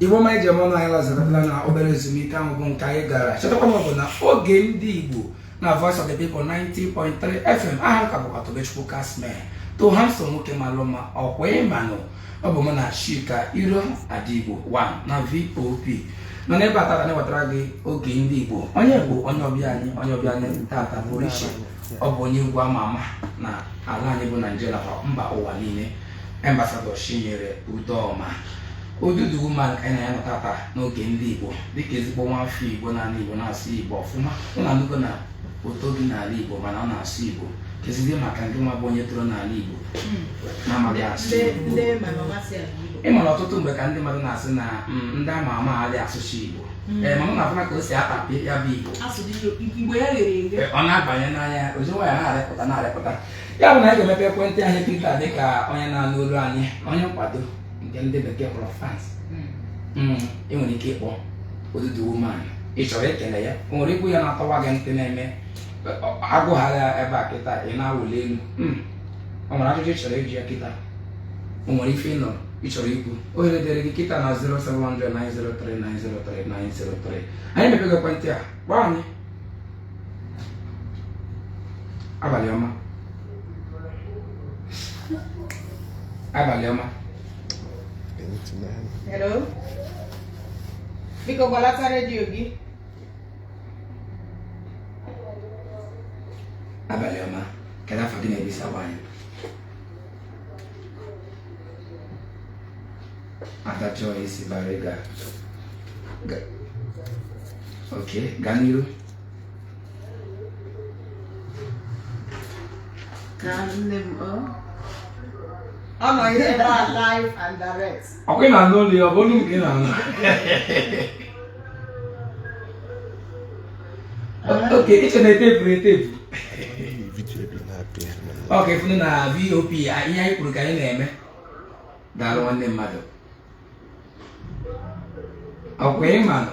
A: igbo ọma eji eme ọnụ anyị alazirala na obere ezumike ahụ bụ nke anyị gara chetakwa na ọ bụ na oge ndị igbo na voice of the people 90.3 fm aha m ka bụkwa tobechukwu kasme too handsome nwoke malụ mma ọkwa ị manụ ọ bụ mụ na chika iro ada igbo 1 na vop nọ n'ebe a tata na-ewetara gị oge ndị igbo onye bụ onye ọbịa anyị onye ọbịa anyị tata pụrụ iche ọ bụ onye egwu ama ama na ala anyị bụ naijiria nakwa mba ụwa niile ambasadọ chinyere udoma odudu woman ka anyị na ya nọ tata n'oge ndị igbo dịka ezigbo nwafọ igbo n'ala igbo na-asụ igbo ọfụma unu anụgo na o toghị n'ala igbo mana ọ na-asụ igbo kezizie maka gịnwa bụ onye toro n'ala igbo na-amaghị asụ Igbo. ị ma na ọtụtụ mgbe ka ndị mmadụ na-asị na mm, ndị ama ama adịghị asụzi igbo Mm. Eh, mana unu afụna ka o si atapịa ya bụ igbo eh, ọ na-abanye na ya ozi nwa ya na-arịpụta na-arịpụta ya bụ na anyị ga-emepe ekwentị anyị kịta dị ka onye na-anụ olu anyị onye nkwado nke ndị bekee kpọrọ fans mm. mm, ị nwere ike ịkpọ odudu woman ị chọrọ ikele ya o nwere egwu ya na-atọwa gị ntị na-eme agụghara ebe a kịta ị na-awụli elu o nwere ajụjụ ị chọrọ ịjụ ya kịta o nwere ife ị nọrọ ị chọrọ ikwu ohere dịrị gị kịta na 0703903903903 anyị mepego ekwentị a kpọọ anyị abalị ọma abalị ọma
D: Hello? Biko gbalata redio
A: gị. abalị ọma kedu afa gị na ebe i si akpọ anyị Adachukwu si Bariga ok gaa n'iru
C: ka nne m ọ ọ
D: nọ ihe na live and direct ọkwa ị na-anụ olu
A: ya ọ bụ olu nke ị na-anụ ok i che na etepu etepu ọkwa ị fụnụ na VOP ihe anyị kwuru ka anyị na-eme daalụ nwanne mmadụ ọkwa ị manụ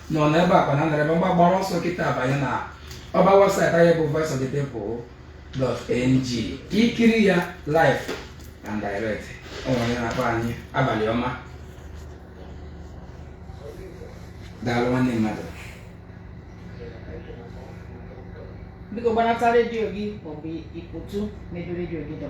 A: nọ n'ebe a kwa na nara ebe mgba gbara ọsọ kịta banye na ọba webụsaịtị anyị bụ voice of the people dot ng ka i kiri ya live and direct o nwere onye na-akpọ anyị abalị ọma daalụ nwanne
B: mmadụ biko gbanata redio gị maọbụ ị pụọtụ n'ebe redio gị dọ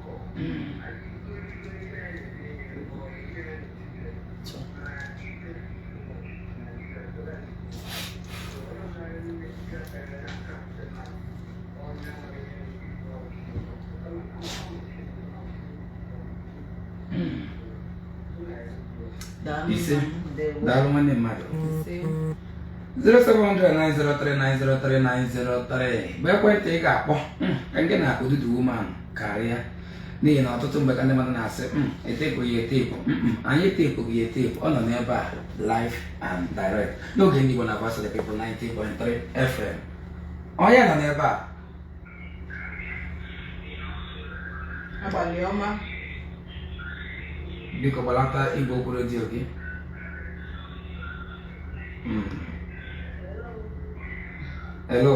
A: ise daalụ nwanne mmadụ 0703903903903 bụ ekwentị ị ga-akpọ ka gị na akụ dudu woman karịa n'ihi na ọtụtụ mgbe ka ndị mmadụ na-asị hmm, etepụ ya etepụ hmm, hmm, anyị etepụghị ya etepụ ọ nọ n'ebe a live and direct n'oge ndị Igbo na Voice of the People 90.3 FM onye nọ n'ebe a
B: abalị
A: ọma biko gbalata igwe okwu redio gị hello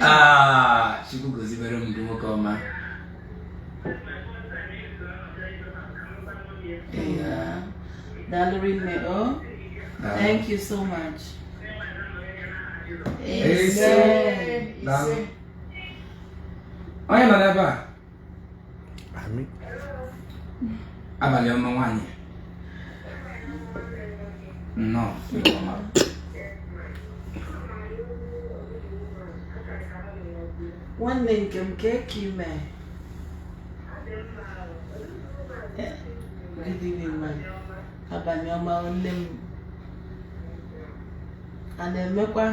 A: Ah, Chukwu gọzibere m gị nwoke
C: ọma daalụ rinne o oh. thank you so
A: much ise ise onye nọ n'ebe a abalị ọma nwaanyị nnọọ
C: nwanne nke m kee ka ị me abalị ọma nne m a na-emekwa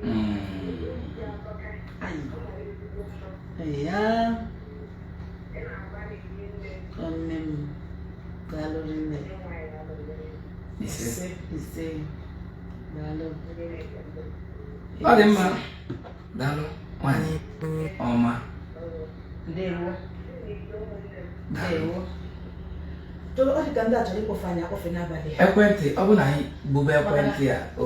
C: Mm. ya nne m daalụ nne
A: ise ise
C: daalụ
A: ọ dị mma daalụ nwanyị ọma
B: ndewo ndewo ọ dị ka ndị a chọrọ ịkpọfe anyị akpọfe n'abalị ekwentị ọ bụ na anyị
A: gbube ekwentị a o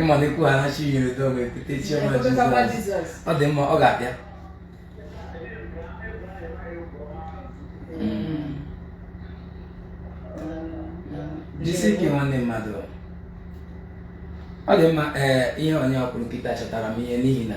A: ịma na ekwu ha na Chinyere Udoma ekute chioma jizọs ọ dị mma ọ ga-abịa jisi ike nwanne mmadụ ọ dị mma ee ihe onye a kwuru kịta chetara m ihe n'ihi na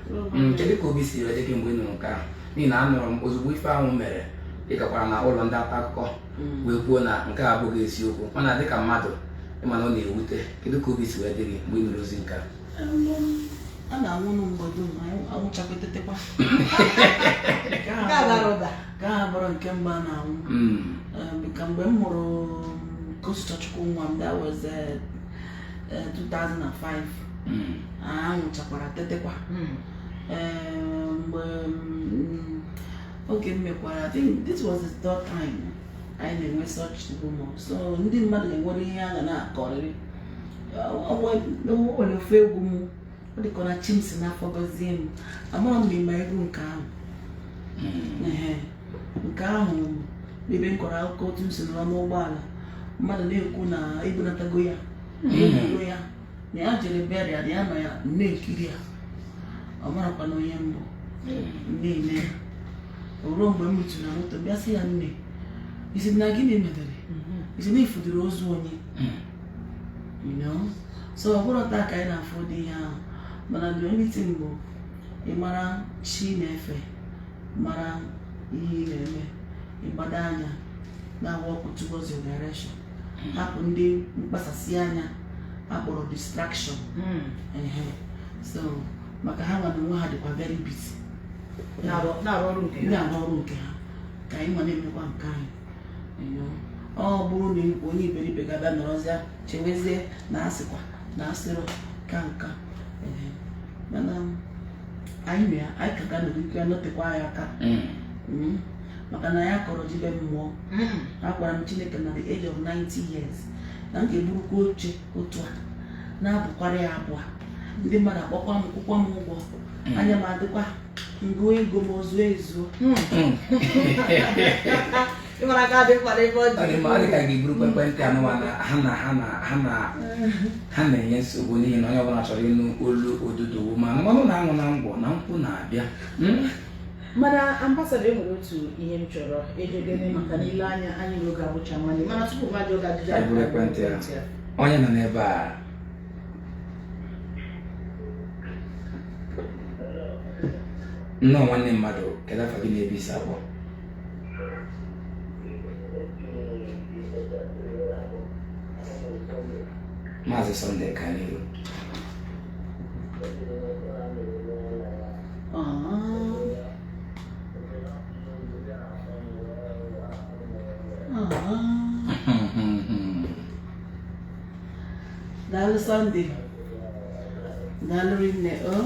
A: Mm, kedu ka obi si wee dị gị mgbe ị nụrụ nke ahụ n'ihi na anụrụ m ozugbo ife ahụ mere ị gakwara na ụlọ ndị nta akụkọ mm. wee kwuo na nke a abụghị eziokwu mana dịka mmadụ ịma na ọ na-ewute kedu ka obi si wee dị gị mgbe ị nụrụ ozi nke a a
C: na-anwụ nụ mgbe dum anwụchakwa tetekwa nke a abụrọ nke mbụ a na-anwụ mm. um, ka mgbe m mụrụ um, Kosisọchukwu nwa m that was uh, eh, 2005 Mm. a nwụchakwara tetekwa Mm. Eh, mgbe mm, oge m mekwara i think this was the third time anyị na-enwe such rumor so ndị mmadụ ga-enwere ihe a ga na-akọrịrị Ọ- ọ nwe- o nwere ofu egwu m ọ dịka ọ na chi m si n'afọ gọzie m amaghị m ma ịma egwu nke ahụ Mm. Ehe. nke ahụ ebe m kọrọ akụkọ otu m si nọrọ n'ụgbọala mmadụ na-ekwu na ebunatago ya na-ebugo ya na ya jere burial na ya nọ ya na-ekiri ya ọ marọkwanụ onye m bụ m na-ene ya o ruo mgbe m rituru na moto bịa sị ya nne ị sị na gịnị medere ị sị na ị fụdịrị ozu onye you know so ọ bụrọ taa ka anyị na-afụ ụdị ihe ahụ mana the only thing bụ ị mara chi ị na-efe mara ihe ị na-eme ị gbado anya na work towards your direction hapụ ndị mkpasasị anya a kpọrọ distraction hmm. ehe so maka ha nwa n'onwe ha dịkwa very busy na-arụ ọrụ nke ha ka anyị nwa na-emekwa nke anyị ọ bụrụ na onye iberibe ga-abịa nọrọzịa chewezie na asịkwa na asịrị ka nka mana anyị na ya anyị ka ga-anọrọ ike nọtekwa anyị aka mm. Mm. maka na anyị akọrọ ji be mmụọ mm. agwara m chineke na the age of 90 years na m ga-eburukwa oche otu a na-abụkwara ya abụ ndị mmadụ akpọkwa m kwụkwa m ụgwọ anya m adịkwa m gụọ ego m o zuo ezuo
B: ịmara ka dị mkpa n'ebe ọ Ọ dị mma, ọ dị ka a
A: ga-eburu ekwentị anụwa na ha na ha na ha na ha na-enye nsogbu n'ihi na onye ọbụla chọrọ ịnụ olu odudu ma mmanụ na-aṅụ na ngwọ na nkwụ na-abịa Mm?
B: mana ambassador e nwere otu ihe m chọrọ ịjụ gị maka na i lee anya anyị na oge abụcha nwanne mana tupu m ajụọ gị ajụjụ a Anyị buru ekwentị
A: a. onye nọ n'ebe a nnọọ nwanne mmadụ kedu afa gị na ebe i si akpọ Maazị Sunday Kaniru
C: daalụ Sunday daalụ rinne o oh.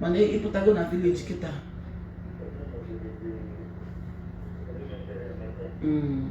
C: mana ị pụtago na village kịta Mm.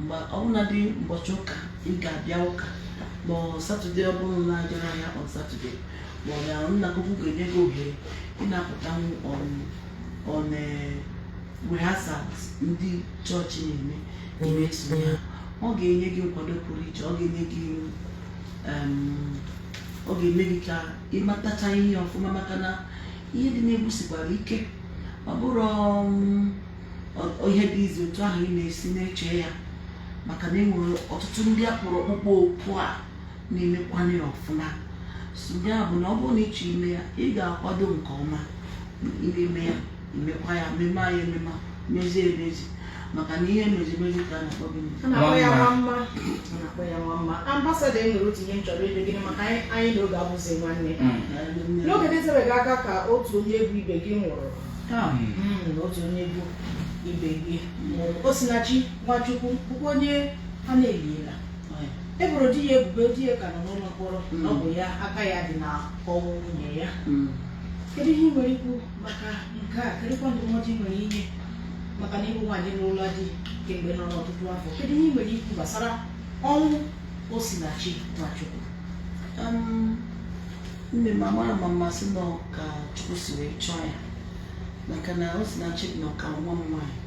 C: mgbe ọbụladị ụbọchị ụka ị ga-abịa ụka ma on Saturday ọ bụrụ na ajara ya on Saturday ma ọ bụ na nna gị ukwu ga-enye gị ohere ị na-apụta on rehearsal ndị chọọchị na-eme ị na-esonye ha ọ ga-enye gị nkwado pụrụ iche ọ ga-enye gị em, ọ ga-eme gị ka ị matacha ihe ọfụma maka na ihe dị n'egwu sikwara ike ọ bụrụ um, ihe dị easy otu ahụ ị na-esi na-eche ya maka na enwere ọtụtụ ndị a kpọrọ ọkpụkpọ oku ha na-emekwanụ ya ọfụma so ya bụ na ọ bụrụ na ị chọọ ime ya ị ga-akwado nke ọma i mee ya i mekwa ya mema ya emema mezie emezi maka na ihe e mezi emezi ka a na-akpọ nwa mma ambassador e nwere otu ihe m chọrọ
B: ịjụ gị maka anyị na oge abụzi nwanne mm. n'oge dịtebegị aka ka otu onye egwu ibe gị nwụrụ Ah, mm, otu onye egwu ibe gị nwụrụ osinachi nwachukwu bụkwa onye a na-eliela e boro di ya ebubo di ya ka nọ n'ụlọ mkpọrọ na ọ bụ ya aka ya dị na ọnwụ nwunye ya kedu ihe ị nwere ikwu maka nke a kedụkwa ndụmọdụ ị nwere inye maka na ị bụ nwaanyị n'ụlọ di kemgbe nọ n'ọtụtụ afọ kedu ihe ị nwere ikwu gbasara ọnwụ osinachi nwachukwu Um,
C: nne m amarọ m ma m sị na ọ ka chukwu si wee chọọ ya maka na osinachi dị nnọọ ka nwa m nwaanyị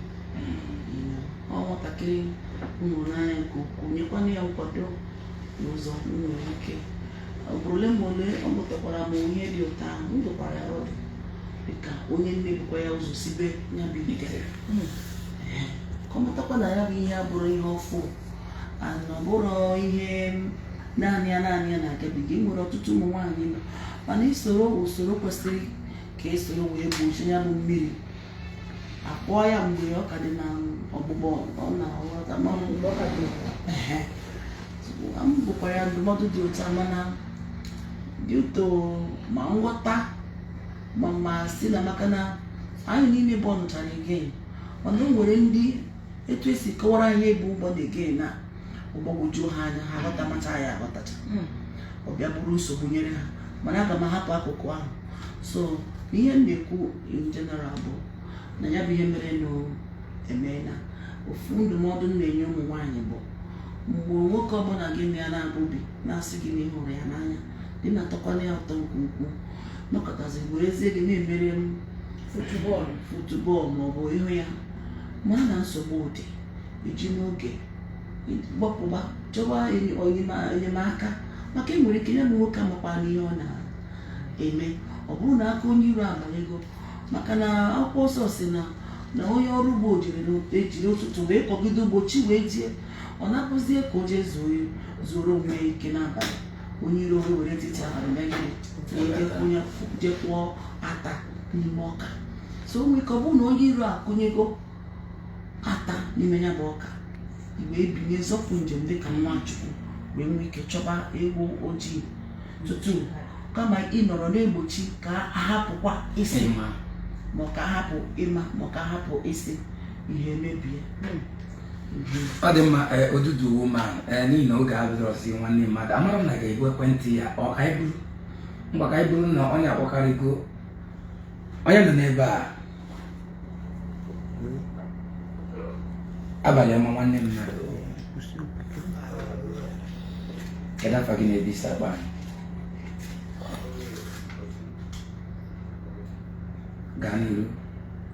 C: ọ nwatakịrị m hụrụ n'anya nke ukwuu nyekwana ya nkwado n'ụzọ m nwere ike ugboro ole ma ole o butakwara m ihe dị otu ahụ m dụkwara ya ọdụ dịka onye nne bukwa ya ụzọ sibe ya bụ ite ka ọ matakwa na ya bụ ihe abụrọ ihe ọfụụ na ọ bụrọ ihe naanị ya naanị ya na-agabiga e nwere ọtụtụ ụmụ nwaanyị nọ mana i soro usoro kwesịrị ka e soro wee gbochie ya bụ mmiri a kwọọ ya mgbe ọ ka dị na ọgbụgbọ ọna aghọta ma ọ bụ mgbe ọ ka dị ehe m dụkwara ya ndụmọdụ dị otu a mana due to ma nghọta ma m asị na maka na anyị niile bornụchara again mana o nwere ndị etu e si kọwara ihe bụ born again ọ gbagwojuo ha anya ha aghọta macha ya aghọtacha hmm. ọ bịa bụrụ nsogbu nyere ha mana aga m ahapụ akụkụ ahụ so ihe m na-ekwu in general bụ na ya bụ ihe mere emeela ofu ndụmọdụ m na-enye ụmụ nwaanyị bụ mgbe nwoke ọbụla gị na ya na-ebi na-asị gị na ị hụrụ ya n'anya dị na-atọkwala ya ụtọ nke ukwuu nọkọtazi werezie gị na-emere m futubọọlụ futubọọlụ maọbụ ị hụ ya mara na nsogbu dị i ji n'oge gbapụ gaa chọwa enyemaka maka e nwere ike ya bụ nwoke amakwana ihe ọ na-eme ọ bụrụ na aka onye iro abanyego maka na akwụkwọ nsọ sị na na onye ọrụ ugbo jiri ejiri ụtụtụ wee kọgide ugbo chi wee jie ọ nakpuzie ka o jee zuoro onwe ya ike n'abalị onye iro wee were etiti abalị mee gịnị wee je kụnye je kụọ ata n'ime ọka so o nwere ike ọ bụrụ na onye iro akụnyego ata n'ime ya bụ ọka i wee binie zọpụ njem dị ka nwa chukwu wee nwee ike chọba ewu ojii tutu kama ị nọrọ na-egbochi ka a hapụkwa ịsị ma ọ ka a hapụ ịma ma ọ ka a hapụ ịsị ihe mebie
A: ọ dị mma e, odudu woman n'ihi na oge abụrọzi nwanne mmadụ amara m na ga-ebu ekwentị ya ọ ka anyị buru mgbe ka anyị buru na onye akpọkarịgo onye nọ n'ebe a abalị ọma nwanne mmadụ kedu afa gị na ebe i si akpọ anyị gaa n'iru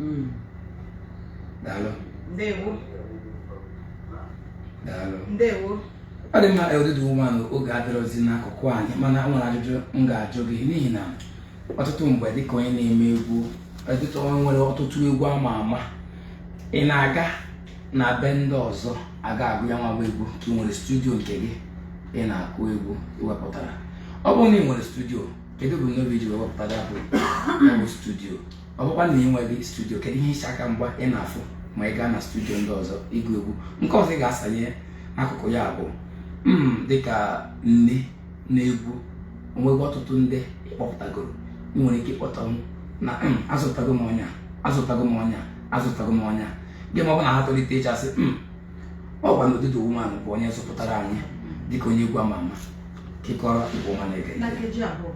A: Mm. Daalụ. Ndewo. Daalụ. Ndewo.
B: ọ dị mma
A: odudu woman oge adịrọzi n'akụkụ anyị mana ọ nwere ajụjụ m ga-ajụ gị n'ihi na ọtụtụ mgbe dịka onye na-eme egwu dịka onye nwere ọtụtụ egwu ama ama ị na-aga na be ndị ọzọ aga agụ ya nwa egwu ka ị nwere studio nke gị ị na-akụ egwu i wepụtara ọ bụrụ na ị nwere studio kedu ebumnobi i ji wepụta ya bụ studio ọ bụkwa na ị nweghị studio kedu ihe iche aka mgba ị na-afụ ma ị gaa na studio ndị ọzọ ịgụ egwu nke ọzọ ị ga-asanye n'akụkụ ya bụ hmm, dịka nne n'egwu o nwego ọtụtụ ndị ị kpọpụtagoro ị nwere ike ịkpọta ọnwụ na hmm, azụtago m onye a azụtago m onye a azụtago m onye a gị ma ọ bụ na ha tolitechasịa hmm, ọ gwa na odudu woman bụ onye zụpụtara anyị dịka onye egwu ama ama
C: kekọrọ igbo
B: ọma na-ege
C: ntị na nkeji abụọ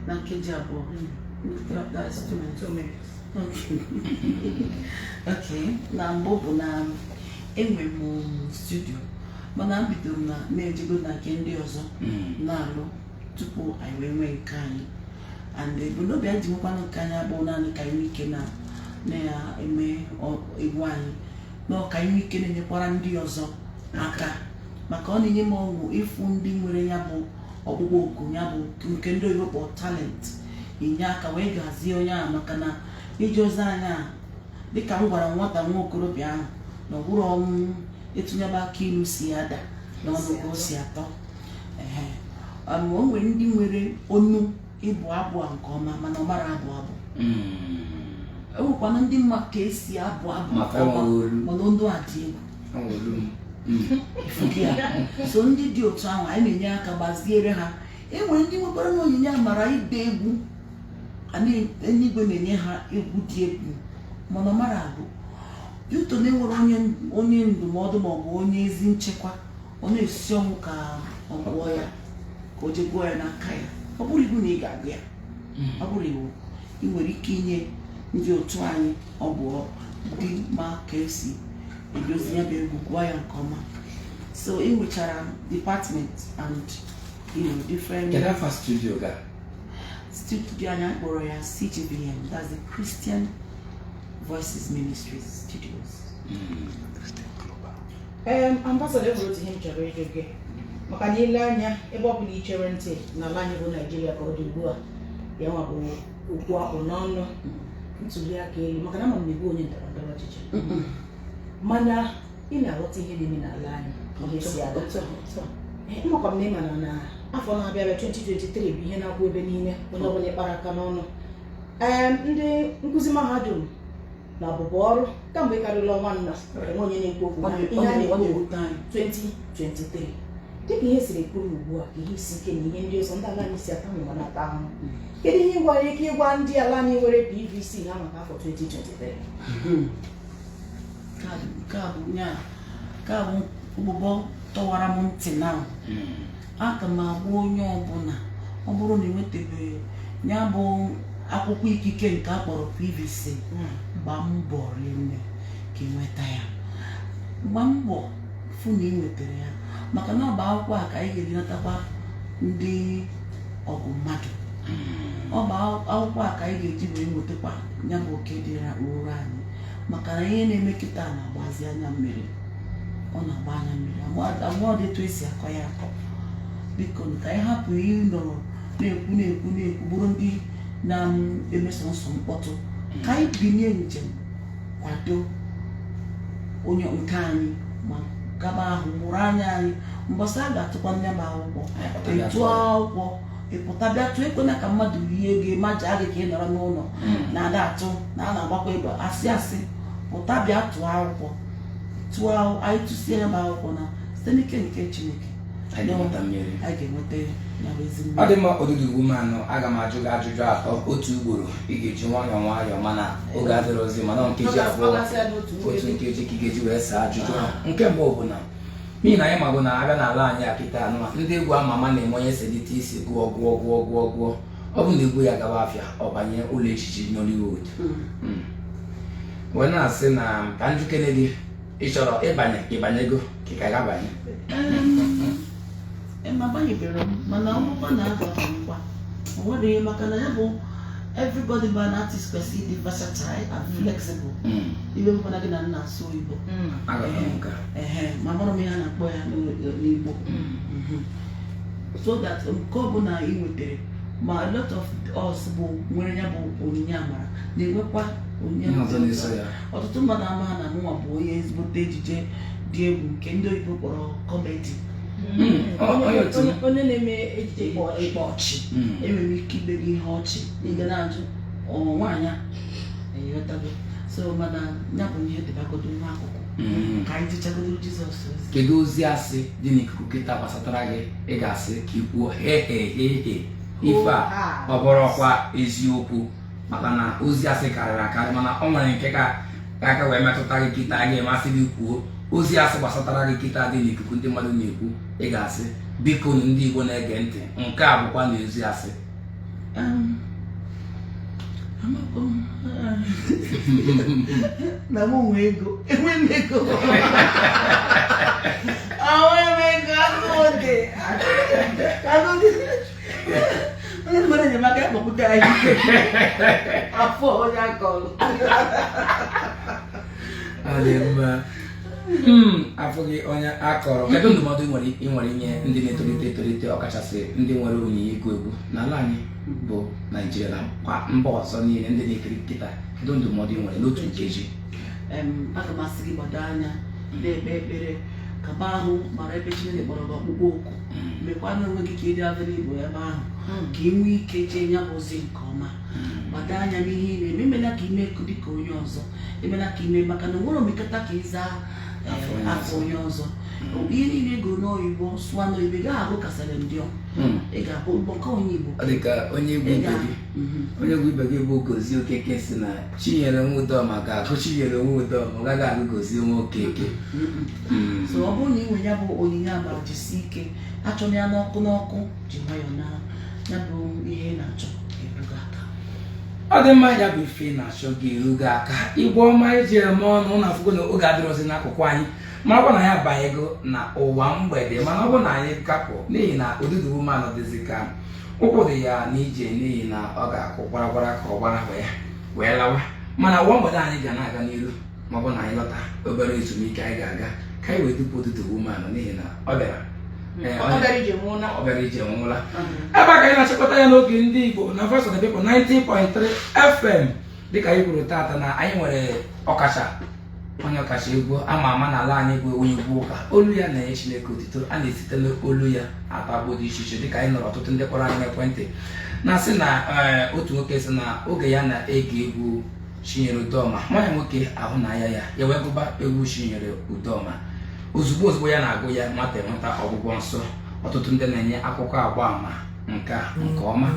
C: na nkeji abụọ That- that's two minutes. two minutes Okay. okay na mbụ bụ na enwe m studio mana m bidoro na na-ejegodi na nke ndị ọzọ Mm. na-alụ tupu anyị wee nwee nke anyị and ebumnobi anyị ji nwekwanụ nke anyị abụrọ naanị ka anyị nwee ike na na-eme ọ- egwu anyị na ọ ka anyị nwee ike na-enyekwara ndị ọzọ aka maka ọ na-enye m ọṅụ ịfụ ndị nwere ya bụ ọkpụkpọ oku ya bụ nke ndị oyibo kpọrọ talent inye aka wee gbazie onye ahụ maka na i lezie anya dịka m gwara nwata nwa okorobịa ahụ na ọ bụrọ nụ etu ya bụ akị ilu si ada n'ọnụ ka o si atọ ehe um, o nwere ndị nwere onu ịbụ abụ a nke ọma mana ọ marọ abụ abụ Mm. enwekwana ndị ma ka e si abụ abụ Maka nke ọma, ọnụ olu. mana onu a dị egwu so ndị dị otu ahụ anyị na-enye aka gbaziere ha enwere ndị nwekwaranụ onyinye amara ide egwu eluigwe na-enye ha egwu dị egwu mana ọ marọ abụ yuto na enwerọ onye ndụmọdụ maọbụ onye ezi nchekwa ọ na-esi ọnwụ ka ọ gụọ ya ka o je gụọ ya n'aka ya ọ bụrọ iwu na ị ga-agụ ya ọ bụrọ iwu ị nwere ike inye ndị otu anyị ọ bụ ndị ma ka esi edozi ya bụ egwu gụọ ya nke ọma so ị nwechara department and you know, different Kedu afa studio
A: gị a? studio
C: anyị akpọrọ ya CGVM that's the Christian Voices Ministries
B: Studios Em, ambasada enwere otu ihe m chọrọ ịjụ gị maka na i lee anya ebe ọ bụla i chere ntị n'ala anyị bụ naijiria ka ọ dị ugbu a ya nwa bụ okwu a kpụ n'ọnụ ntuliaka elu maka na ama m na ị bụ onye ndọrọ ndọrọ ọchịchị mana ị na-aghọta ihe na-eme n'ala anyị ihe si aga amakwa m na ịma na na afọ na-abịa abịa 2023 bụ ihe a na-ekwu ebe niile onye ọbụla ị kpara aka n'ọnụ ee ndị nkuzi mahadum na abụbọ ọrụ kamgbe karịrị ọnwa nna enwe onye na-ekwu okwu na ihe a na-ekwu 2023 dịka ihe siri kwụrụ ugbu a ka ihe isi ike na ihe ndị ọzọ ndị ala anyị si ata ma na-ata ahụhụ kedu ihe i nwere ike ịgwa ndị ala anyị nwere PVC na maka afọ
C: 2023 nke a bụ ụbụbọ tọwara m ntị na aga m agwa onye ọbụla ọ bụrụ na ị nwetabeghị ya bụ akwụkwọ ikike nke a kpọrọ pvc hmm. gba mbọ rinne ka ị nweta ya gba mbọ fụ na ị nwetara ya maka na ọ bụ akwụkwọ a ka anyị ga-eji natakwa ndị ogbu mmadụ hmm. ọ bụ akwụkwọ a ka anyị ga-eji wee nwetakwa ya bụ oke dịrịrị anyị maka na ihe na-eme kịta na-agbazi anya mmiri ọ na-agba anya mmiri agba ọ dị etu esi akọ ya akọ biko ka anyị hapụ ịnọrọ na-ekwu na-ekwu na-ekwu bụrụ ndị na-eme sọnsọ mkpọtụ ka anyị binie njem kwado onye nke anyị ma gaba ahụ mụrụ anya anyị mbọsị a ga-atụkwa nya bụ akwụkwọ ịtụ akwụkwọ ị pụta bịa tụọ ekwena ka mmadụ yie gị majaa gị ka ị nọrọ n'ụlọ na-ada atụ na a na-agbakwa egbe asị asị pụta bịa tụọ akwụkwọ tụọ anyị tụsie ya bụ akwụkwọ na site n'ike nke chineke anyị ga-enweta mmeri a ga-enweta ya nya bụ ezi mmeri ọ dị mma odudu ugwu
A: manụ aga m ajụ gị ajụjụ atọ otu ugboro ị ga-eji nwayọọ nwayọọ mana oge adịrọzi mana ọ nkeji abụọ ị ga-asa ya n'otu otu nkeji. nkeji ka ị ga-eji wee saa ajụjụ a nke mbụ bụ na n'ihi na anyị mago na a bịa n'ala anyị a kịta anụma ndị egwu ama ama na-eme onye selite isi gụọ gụọ gụọ gụọ gụọ ọ bụ na egwu ya gawa afịa ọ banye ụlọ ejije Nollywood hmm. Hmm. wee na-asị na ka njikere gị ị chọrọ ịbanye ịbanyego ka ị ka ga-abanye
C: abanyeberọ m mana mụ ka na-akwa ngwa o nwere ihe maka na ya bụ everybody bụ an artist kwesịrị ịdị versatile and hmm. flexible hmm. iwe ewekwana gị na m na-asụ oyibo hmm. amarọ m ihe a na-akpọ ya n'igbo so that nke ọbụla ị nwetara ma a lot of us bụ nwere ya bụ onyinye amara na-enwekwa onyinye Ihe ọzọ na-eso ya. ọtụtụ mmadụ amaghị na mụnwa bụ onye ezigbote ejije dị egwu nke ndị oyibo kpọrọ kọmedi Mm, ọ- ọ ya otu m. Onye- onye na-eme ejije ịkpa ịkpọ ịkpa ọchị Mm. enwere ike ime gị ihe ọchị ị ga na-ajụ ọ nwaanyị a eghọtago so mana ya bụ ihe dịbagodo nwa akụkụ Mm. ka anyị jechagodo jizọs ozi kedu ozi asị
A: dị n'ikuku kịta gbasatara gị ị ga-asị ka ị kwuo he he he he ife a Oha. ọ bụrọkwa eziokwu maka na ozi asị karịrị akarị mana ọ nwere nke ka ka aka wee metụta gị kịta a ga-amasị gị ị kwuo ozi asị gbasatara gị kịta dị n'ikuku ndị mmadụ na-ekwu ị ga-asị biko nụ ndị Igbo na-ege ntị nke a bụkwa na ozi asị na m
C: nwe ego enweghị m ego enweghị m ego agụdị agụdị onye nwere enyemaka ya kpọpụta anyị afụrọ onye akọrọ
A: Hmm, afụghị onye akọrọ kedu ndụmọdụ ị nwere inye ndị na-etolite etolite ọkachasị ndị nwere onyinye ịgụ egwu n'ala anyị bụ naijiria na kwa mba ọzọ niile ndị na-ekiri kịta kedu ndụmọdụ ị nwere n'otu nkeji
C: aga m asị gị gbado anya na-ekpe ekpere kaba ahụ mara ebe chineke kpọrọ gị ọkpụkpọ oku hmm. mekwa na onwe gị ka ị dị available ebe ahụ hmm. ka ị nwee ike jee ya bụ ozi nke ọma gbado anya n'ihe ị na-eme emela ka ime ekụ dịka onye ọzọ emela ka ime maka na onwere omekata ka ị zaa afa onye ọzọ ihe niile ị gụọ n'oyibo sụwa n'oyibo ị gaghị agụ kasara ndị ọ hmm. ị ga-abụ mkpọkọ onye igbo ọ dị ka onye egwu
A: ibe gị mhm. onye egwu ibe gị bụ gozie okeke sị na chinyere nwa udoma ga-agụ chinyere nwa udoma ọ gaghị agụ gozie nwa okeke
C: hmm. so ọ bụrụ na ị nwere ya bụ onyinye amara jisi ike achọna ya n'ọkụ n'ọkụ ji nwayọọ na ya bụ ihe ị na-achọ erugo aka ọ dị
A: mma ya bụ ife ị na-achọ ga-eru gị aka igbo ọma e ji eme ọnụ unu afụgo na oge adịrọzi n'akụkụ anyị ma ọ bụ na anyị abanyego na ụwa mgbede mana ọ bụ na anyị ga-apụ n'ihi na odogwu woman dịzi ka ụkwụ dị ya n'ije n'ihi na ọ ga-akụ gwara gwara ka ọ gbara ya wee lawa mana ụwa mgbede anyị ga na-aga n'iru ma ọ bụ na anyị lọta obere ezumike anyị ga-aga ka anyị wee dupu odogwu woman n'ihi na ọ bịara Ee, ọ ọ bịara ije nwe ụla ọ bịara ije nwe ụla ebe a ka anyị na-achịkọta ya n'oge ndị igbo na Voice of the People 90.3 fm dịka anyị kwuru taata na anyị nwere ọkacha onye ọkacha egwu ama ama n'ala anyị bụ onye egwu ụka olu ya na-enye chineke otito a na-esite n'olu ya atọ agbụ dị iche iche dịka anyị nụrụ ọtụtụ ndị kpọrọ anyị n'ekwentị na-asị na ee, otu nwoke sị na oge ya na-ege egwu Chinyere Udoma nwa ya nwoke ahụ na-aya ya ya wee gụba egwu Chinyere Udoma ozugbo ozugbo ya na-agụ ya nwata enweta ọgwụgwọ nsọ ọtụtụ ndị na-enye akụkọ agba ama nke nke ọma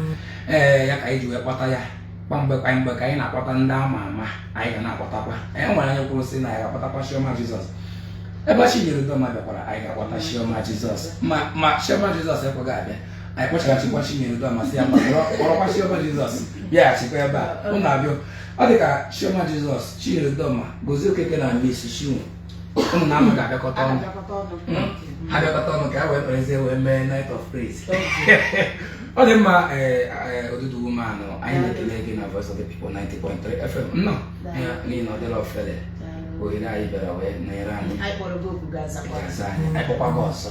A: ee ya ka anyị ji wee kpọta ya kwa mgbe kwa mgbe ka anyị na-akpọta ndị ama ama anyị ga na-akpọtakwa e nwere onye kwuru sị na anyị ga-akpọtakwa Chioma Jesus ebe Chinyere Udoma bịakwara anyị ga-akpọta Chioma Jesus ma ma Chioma Jesus ekweghị abịa anyị kpọchaghachikwa Chinyere Udoma sị ya kpọrọkwa Chioma Jesus bịaghachikwa ebe a ụnụ abịa ọ dị ka Chioma Jesus Chinyere Udoma Gozie Okeke na Mercy Chinwo ụnụ na ama ga-abịakọta ọnụ ha bịakọta ọnụ ka e wee kperezie wee mee night of praise ọ dị mma odogwu woman anyị na-ekele gị na Voice of the People 90.3 FM nnọọ n'ihi na ọ dịrọ ofele ohere a ị bịara wee nọnyere anyị anyị kpọkwa gị ọzọ